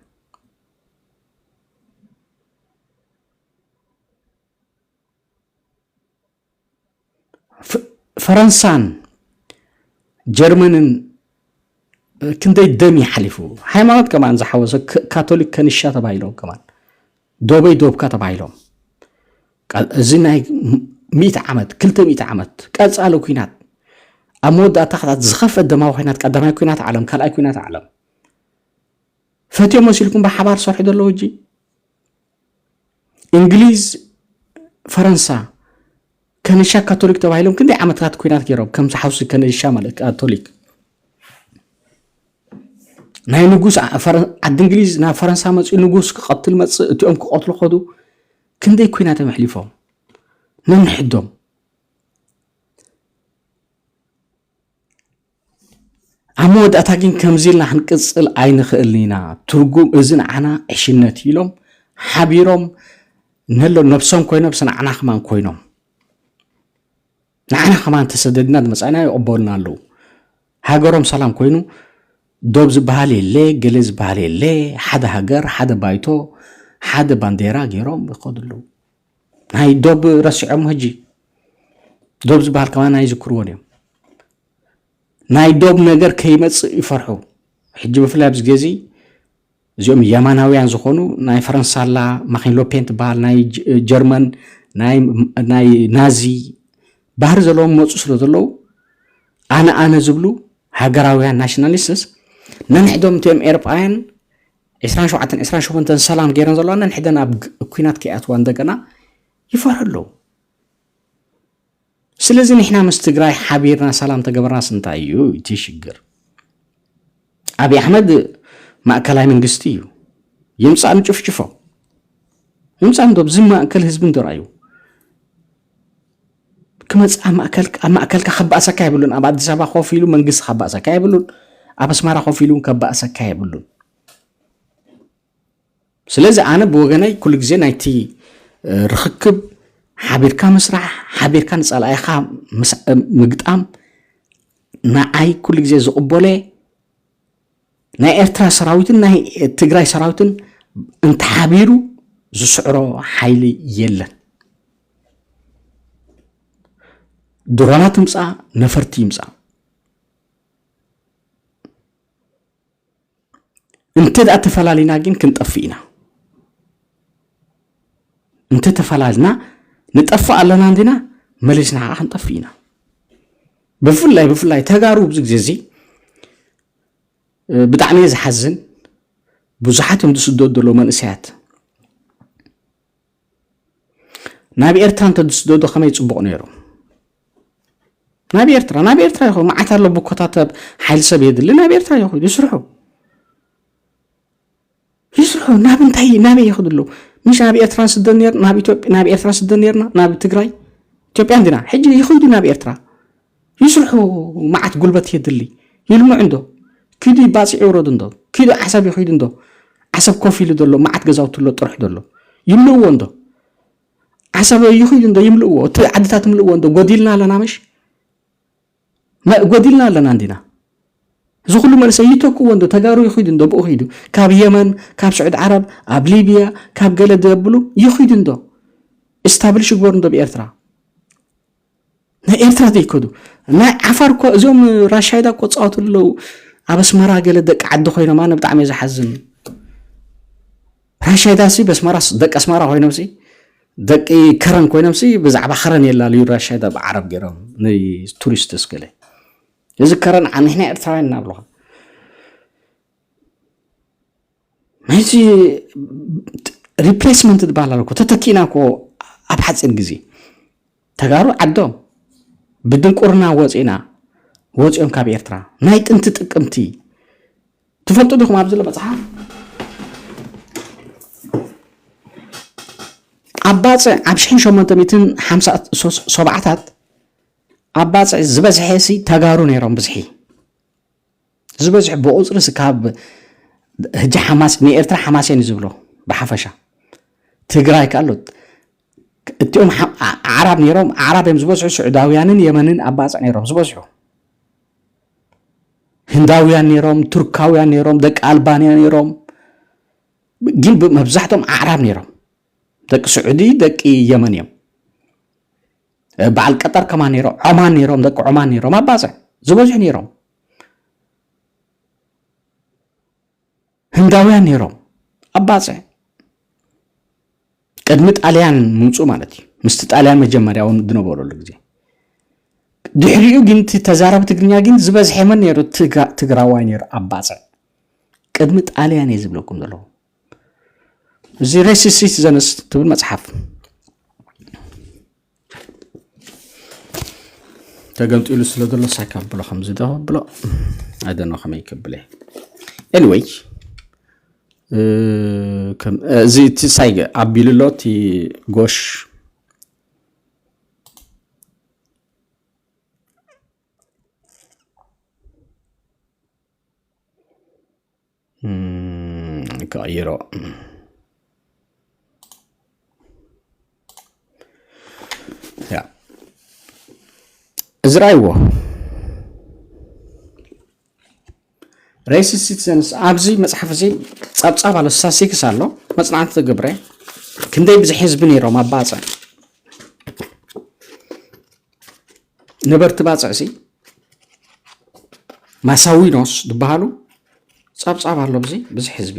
ፈረንሳን ጀርመንን ክንደይ ደም ይሓሊፉ ሃይማኖት ከማን ዝሓወሰ ካቶሊክ ከንሻ ተባሂሎም ከማን ዶበይ ዶብካ ተባሂሎም እዚ ናይ ሚእቲ ዓመት ክልተ ሚእቲ ዓመት ቀፃሊ ኩናት ኣብ መወዳእታ ክታት ዝኸፈ ደማዊ ኩናት ቀዳማይ ኩናት ዓለም ካልኣይ ኩናት ዓለም ፈትዮ መሲልኩም ብሓባር ሰርሑ ዘለዉ እጂ እንግሊዝ ፈረንሳ ከነሻ ካቶሊክ ተባሂሎም ክንደይ ዓመታት ኩናት ገይሮም ከም ሓውሲ ከነሻ ማለት ካቶሊክ ናይ ንጉስ ዓዲ እንግሊዝ ናብ ፈረንሳ መፅኡ ንጉስ ክቐትል መፅእ እቲኦም ክቐትሉ ከዱ ክንደይ ኩናት እዮም ኣሕሊፎም ነንሕዶም ኣብ መወዳእታ ግን ከምዚ ኢልና ክንቅፅል ኣይንኽእልን ኢና ትርጉም እዚ ንዓና ዕሽነት ኢሎም ሓቢሮም ነሎ ነብሶም ኮይኖም ስንዓና ከማን ኮይኖም ንዓና ከማን ተሰደድና ዝመፃእና ይቕበሉና ኣለዉ ሃገሮም ሰላም ኮይኑ ዶብ ዝበሃል የለ ገለ ዝበሃል የለ ሓደ ሃገር ሓደ ባይቶ ሓደ ባንዴራ ገይሮም ይኸዱ ኣለዉ ናይ ዶብ ረሲዖሞ ሕጂ ዶብ ዝበሃል ከማን ኣይዝክርዎን እዮም ናይ ዶብ ነገር ከይመፅእ ይፈርሑ ሕጂ ብፍላይ ኣብዚ ግዜ እዚኦም የማናውያን ዝኾኑ ናይ ፈረንሳላ ማኪን ሎፔን ትበሃል ናይ ጀርመን ናይ ናዚ ባህሪ ዘለዎም መፁ ስለ ዘለዉ ኣነ ኣነ ዝብሉ ሃገራውያን ናሽናሊስትስ ነንሕዶም እቲኦም ኤርጳውያን ዕስራን ሸውዓተን ዕስራን ሸሞንተን ሰላም ገይረን ዘለዋ ነንሕደን ኣብ ኩናት ከይኣትዋ እንደገና ይፈርሑ ኣለዉ ስለዚ ንሕና ምስ ትግራይ ሓቢርና ሰላም ተገበርናስ እንታይ እዩ እቲ ሽግር ኣብዪ ኣሕመድ ማእከላይ መንግስቲ እዩ ይምፃእ ንጭፍጭፎ ይምፃእ ንዶብ እዚ ማእከል ህዝቢ እንዶ ራዩ ክመጽእ ኣብ ማእከልካ ኣብ ማእከልካ ከባእሰካ የብሉን ኣብ ኣዲስ ኣበባ ኮፍ ኢሉ መንግስቲ ከባእሰካ የብሉን ኣብ ኣስማራ ኮፍ ኢሉ ከባእሰካ የብሉን ስለዚ ኣነ ብወገነይ ኩሉ ግዜ ናይቲ ርክክብ ሓቢርካ ምስራሕ ሓቢርካ ንፀላኢኻ ምግጣም ንዓይ ኩሉ ግዜ ዝቕበሎ ናይ ኤርትራ ሰራዊትን ናይ ትግራይ ሰራዊትን እንተሓቢሩ ዝስዕሮ ሓይሊ የለን። ድሮናት ይምፃ ነፈርቲ ይምፃ እንተ ደኣ ተፈላሊና ግን ክንጠፍእ ኢና እንተ ተፈላልና ንጠፍእ ኣለና እንዲና መሊስና ከዓ ክንጠፍእ ኢና ብፍላይ ብፍላይ ተጋሩ ኣብዚ ግዜ እዚ ብጣዕሚ እየ ዝሓዝን ብዙሓት እዮም ዝስደዱ ዘለዉ መንእሰያት ናብ ኤርትራ እንተ ዝስደዱ ከመይ ፅቡቕ ነይሩ ናብ ኤርትራ ናብ ኤርትራ ይኹ መዓት ኣሎ ብኮታተብ ሓይል ሰብ የድሊ ናብ ኤርትራ ይኹ ይስርሑ ይስርሑ ናብ እንታይ ናበይ ይኸዱ ኣለዉ ምሽ ናብ ኤርትራ ንስደ ነር ናብ ኢትዮጵያ ናብ ኤርትራ ንስደ ነርና ናብ ትግራይ ኢትዮጵያ እንዲና ሕጂ ይኸዱ ናብ ኤርትራ ይስርሑ መዓት ጉልበት የድሊ ይልምዑ እንዶ ኪዱ ይባፅዕ ይውረዱ እንዶ ኪዱ ዓሰብ ይኸዱ እንዶ ዓሰብ ኮፍ ኢሉ ዘሎ መዓት ገዛውቲ ኣሎ ጥርሑ ዘሎ ይምልእዎ እንዶ ዓሰብ ይኸዱ እንዶ ይምልእዎ እቲ ዓድታት ምልእዎ እንዶ ጎዲልና ኣለና መሽ ጎዲልና ኣለና እንዲና እዚ ኩሉ መንእሰይ ይተክዎ እንዶ ተጋሩ ይኺዱ እንዶ ብኡ ኺዱ ካብ የመን ካብ ስዑድ ዓረብ ኣብ ሊብያ ካብ ገለ ደብሉ ይኺዱ እንዶ እስታብልሽ ይግበሩ እንዶ ብኤርትራ ናይ ኤርትራ ዘይከዱ ናይ ዓፋር እኮ እዞም ራሻይዳ እኮ ፃወቱ ኣለዉ ኣብ ኣስመራ ገለ ደቂ ዓዲ ኮይኖም ኣነ ብጣዕሚ እዩ ዝሓዝን ራሻይዳሲ በስመራስ ደቂ ኣስመራ ኮይኖምሲ ደቂ ከረን ኮይኖምሲ ብዛዕባ ከረን የላለዩ ራሻይዳ ብዓረብ ገይሮም ንቱሪስት ስክለ እዚ ከረን ንሕና ኤርትራውያን እናብለኻ ናይዚ ሪፕሌስመንት ዝበሃል ኣለኮ ተተኪእና ኮ ኣብ ሓፂር ግዜ ተጋሩ ዓዶም ብድንቁርና ወጺእና ወጺኦም ካብ ኤርትራ ናይ ጥንቲ ጥቅምቲ ትፈልጡ ዲኹም ኣብዚ ዘሎ መጽሓፍ ኣብ ባጽዕ ኣብ ሽሕን ሸሞንተ ሚትን ሓምሳ ሰብዓታት ኣብ ባጽዕ ዝበዝሐ ሲ ተጋሩ ነይሮም ብዝሒ ዝበዝሑ ብቁፅሪ ስካብ ህጂ ሓማስ ንኤርትራ ሓማስ እየን ዝብሎ ብሓፈሻ ትግራይ ካሎ እቲኦም ኣዕራብ ነይሮም ኣዕራብ እዮም ዝበዝሑ ስዑዳውያንን የመንን ኣባፅዕ ነይሮም ዝበዝሑ ህንዳውያን ነይሮም ቱርካውያን ነይሮም ደቂ ኣልባንያ ነይሮም ግን መብዛሕቶም ኣዕራብ ነይሮም ደቂ ስዑዲ ደቂ የመን እዮም በዓል ቀጠር ከማ ነይሮም ዖማን ነይሮም ደቂ ዖማን ነይሮም ኣባፅዕ ዝበዝሑ ነይሮም ህንዳውያን ነይሮም ኣባፅዕ ቅድሚ ጣልያን ምውፁ ማለት እዩ ምስቲ ጣልያን መጀመርያ እውን ዝነበረሉ ግዜ ድሕሪኡ ግን ተዛረብ ትግርኛ ግን ዝበዝሐ መን ነይሩ ትግራዋይ ነይሩ ኣባፅዕ ቅድሚ ጣልያን እየ ዝብለኩም ዘለኹ እዚ ሬሲስት ሲቲዘንስ ትብል መፅሓፍ ተገምጢሉ ስለ ዘሎ ሳካ ብሎ ከምዚ ዶ ብሎ ኣደኖ ከመይ ክብለ ኤኒወይ እዚ እቲ ሳይ ኣቢሉ ኣሎ እቲ ጎሽ ክቕይሮ እዚ ራይዎ ሬሲስ ሲቲዘንስ ኣብዚ መፅሓፍ እዚ ፀብፃብ ኣሎ ስታስቲክስ ኣሎ መፅናዕቲ ተገብረ ክንደይ ብዝሒ ህዝቢ ነይሮም ኣባፀ ነበርቲ ባፅዕሲ ማሳዊኖስ ዝበሃሉ ጸብጻብ ኣሎ ብዚ ብዝሕ ህዝቢ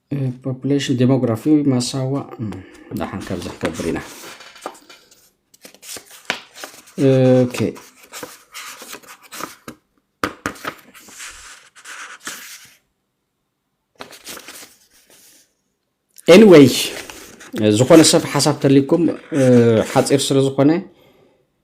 ፖፕሌሽን ዴሞግራፊ ማሳዋ ዳሓን ካብዚ ክገብር ኢና ኦኬ ኤኒዌይ ዝኾነ ሰብ ሓሳብ ተልኩም ሓፂር ስለ ዝኾነ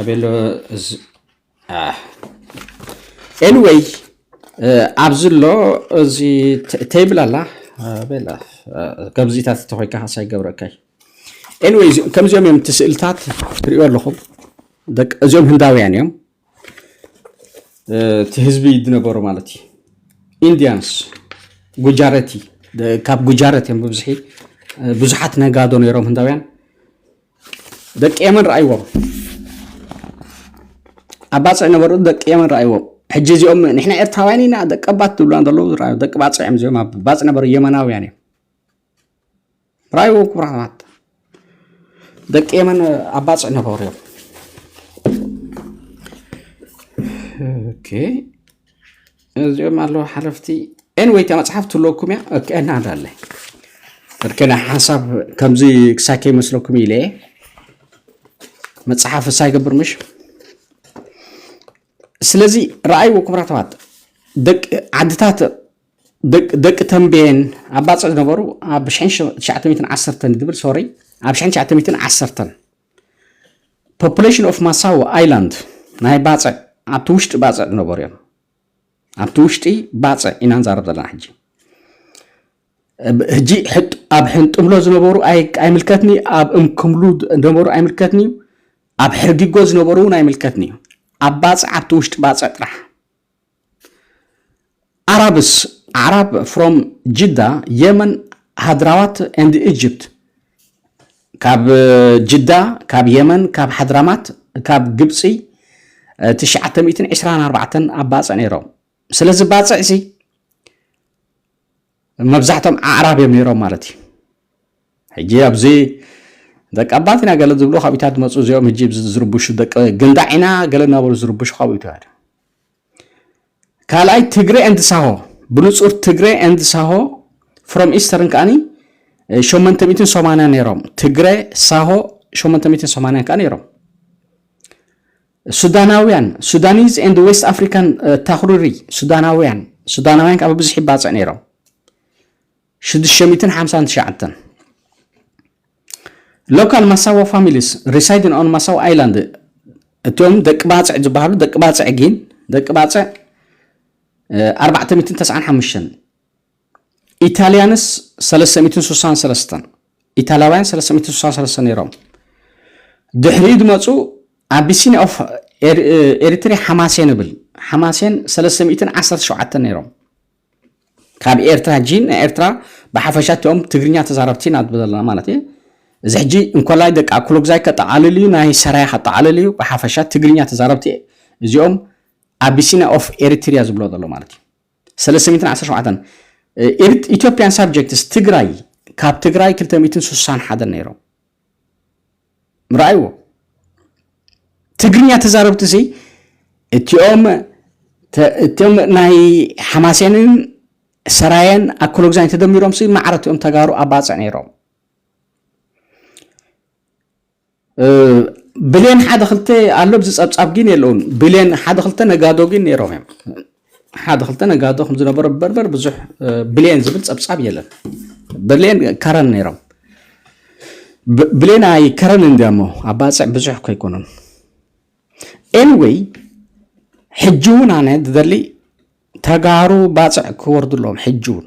ኣቤሎ ኤንወይ ኣብዚ ኣሎ እዚ ተይብል ኣላ ቤላ ከምዚታት ተኮይካ ካሳ ይገብረካይ ኤንወይ ከምዚኦም እዮም እቲ ስእልታት ትሪእዮ ኣለኹም እዚኦም ህንዳውያን እዮም እቲ ህዝቢ ዝነበሩ ማለት እዩ ኢንዲያንስ ጉጃረቲ ካብ ጉጃረት እዮም ብብዝሒ ብዙሓት ነጋዶ ነይሮም ህንዳውያን ደቂ የመን ረኣይዎም ኣብ ባፅዕ ነበሩ ደቂ የመን ረኣይዎም ሕጂ እዚኦም ንሕና ኤርትራውያን ኢና ደቀባት ዝብሉና ዘለዉ ዝረኣዩ ደቂ ባፅዕ እዮም እዚኦም ኣብ ባፅዕ ነበሩ የመናውያን እዮም ራዩ ክቡር ኣሕዋት ደቂ የመን ኣባፅዕ ነበሩ እዮም ኦኬ እዚኦም ኣለዉ ሓለፍቲ ኤንወይ እታ መፅሓፍ ትለኩም እያ እከና ኣዳለ እርከና ሓሳብ ከምዚ ክሳይ ከይመስለኩም ኢለ እየ መፅሓፍ እሳ ይገብር ምሽ ስለዚ ረኣይዎ ክብራተዋት ደቂ ዓድታት ደቂ ተምቤን ኣብ ባጽዕ ዝነበሩ ኣብ ሽሕን ሽ- ትሽዓተ ሚእትን ዓሰርተን ዝብል ሶሪ ኣብ ሽሕን ትሽዓተ ሚእትን ዓሰርተን ፖፑሌሽን ኦፍ ማሳዎ ኣይላንድ ናይ ባፅዕ ኣብቲ ውሽጢ ባፅዕ ዝነበሩ እዮም ኣብቲ ውሽጢ ባፅዕ ኢና ንዛረብ ዘለና ሕጂ ብ- ሕጂ ሕጥ- ኣብ ሕንጥምሎ ዝነበሩ ኣይ- ኣይምልከትኒ ኣብ እምክምሉ ዝነበሩ ኣይምልከትኒ እዩ ኣብ ሕርጊጎ ዝነበሩ እውን ኣይምልከትኒ እዩ ኣብ ባፅዕ ኣብቲ ውሽጢ ባፅዕ ጥራሕ Arabs Arab from Jeddah Yemen ሃድራዋት and Egypt ካብ ጅዳ ካብ የመን ካብ ሓድራማት ካብ ግብፂ 924 ኣብ ባፅዕ ነይሮም ስለዚ ባፅዕ ሲ መብዛሕቶም ኣዕራብ እዮም ነይሮም ማለት እዩ ሕጂ ኣብዚ ደቂ ኣባት ኢና ገለ ዝብሉ ካብኢታት መፁ እዚኦም ሕጂ ዝርብሹ ደቂ ግንዳዕ ኢና ገለ እናበሉ ዝርብሹ ካብኢቱ ካልኣይ ትግሬ ኤንድ ሳሆ ብንጹር ትግሬ ኤንድ ሳሆ ፍሮም ኢስተርን ከዓኒ 880 ነይሮም ትግረ ሳሆ 880 ከዓ ነይሮም ሱዳናውያን ሱዳኒዝ ኤንድ ዌስት ኣፍሪካን ታክሩሪ ሱዳናውያን ሱዳናውያን ከዓ ብብዙሕ ይባፅዕ ነይሮም 659 Local Massawa Families Residing on Massawa Island እቲኦም ደቂ ባጽዕ ዝበሃሉ ደቂ ባጽዕ ጊን ደቂ ባጽዕ ኣርባዕተ ሚእትን ተስዓን ሓሙሽተን ኢታልያንስ ሰለስተ ሚእትን ስሳን ሰለስተን ኢታልያውያን ሰለስተ ሚእትን ስሳን ሰለስተን ነይሮም ድሕሪኡ ዝመፁ ኣቢሲኒያ ኦፍ ኤሪትሪያ ሓማሴን ይብል ሓማሴን ሰለስተ ሚእትን ዓሰርተ ሸውዓተን ነይሮም ካብ ኤርትራ ሕጂ ንኤርትራ ብሓፈሻ እቲኦም ትግርኛ ተዛረብቲ ኢና ንብል ዘለና ማለት እየ እዚ ሕጂ እንኮላይ ደቂ ኣኩሎጉዛይ ከጠቓልል እዩ ናይ ሰራያ ከጠቓልል እዩ ብሓፈሻ ትግርኛ ተዛረብቲ እዚኦም ኣቢሲና ኦፍ ኤሪትሪያ ዝብሎ ዘሎ ማለት እዩ ሰለስተ ሚእትን ዓሰርተ ሸውዓተን ኢትዮጵያን ሳብጀክትስ ትግራይ ካብ ትግራይ ክልተ ሚእትን ስሳን ሓደን ነይሮም ርኣይዎ ትግርኛ ተዛረብቲ ሲ እቲኦም እቶም ናይ ሓማሴንን ሰራየን ኣኮሎግዛኝ ተደሚሮም ሲ ማዕረ እቲኦም ተጋሩ ኣባፅዕ ነይሮም ብሌን ሓደ ክልተ ኣሎ ብዚ ፀብፃብ ግን የለውን ብሌን ሓደ ክልተ ነጋዶ ግን ነይሮም እዮም ሓደ ክልተ ነጋዶ ከም ዝነበሮ በርበር ብዙሕ ብሌን ዝብል ጸብጻብ የለን። ብሌን ከረን ነይሮም። ብሌን ኣይ ከረን እንዲያሞ ኣብ ባጽዕ ብዙሕ ከይኮኑን ኤንወይ ሕጂ እውን ኣነ ዝደሊ ተጋሩ ባፅዕ ክወርዱ ኣለዎም ሕጂ እውን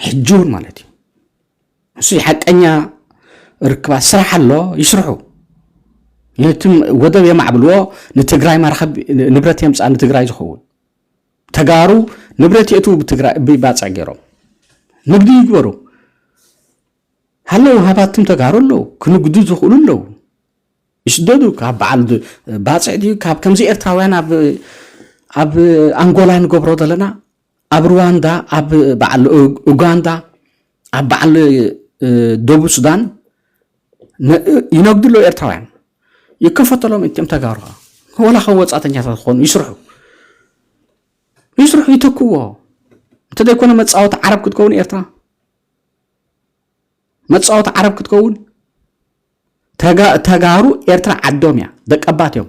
ሕጂ እውን ማለት እዩ እሱይ ሓቀኛ ርክባት ስራሕ ኣሎ ይስርሑ ነቲ ወደብ የማዕብልዎ ንትግራይ ማርኸብ ንብረት የምፃእ ንትግራይ ዝኸውን ተጋሩ ንብረት የእትዉ ብትግራይ ብባፅዕ ገይሮም ንግዲ ይግበሩ ሃለው ሃባትም ተጋሩ ኣለዉ ክንግዱ ዝኽእሉ ኣለዉ ይስደዱ ካብ በዓል ባፅዕ ድዩ ካብ ከምዚ ኤርትራውያን ኣብ ኣብ ኣንጎላ ንገብሮ ዘለና ኣብ ሩዋንዳ ኣብ በዓል ኡጋንዳ ኣብ በዓል ደቡብ ሱዳን ይነግድሎ ኤርትራውያን ይከፈተሎም እትም ተጋሩ ወላ ካብ ወፃተኛታት ክኾኑ ይስርሑ ይስርሑ ይተክዎ እንተዘይኮነ መፃወቲ ዓረብ ክትከውን ኤርትራ መፃወቲ ዓረብ ክትከውን ተጋሩ ኤርትራ ዓዶም እያ ደቀባት እዮም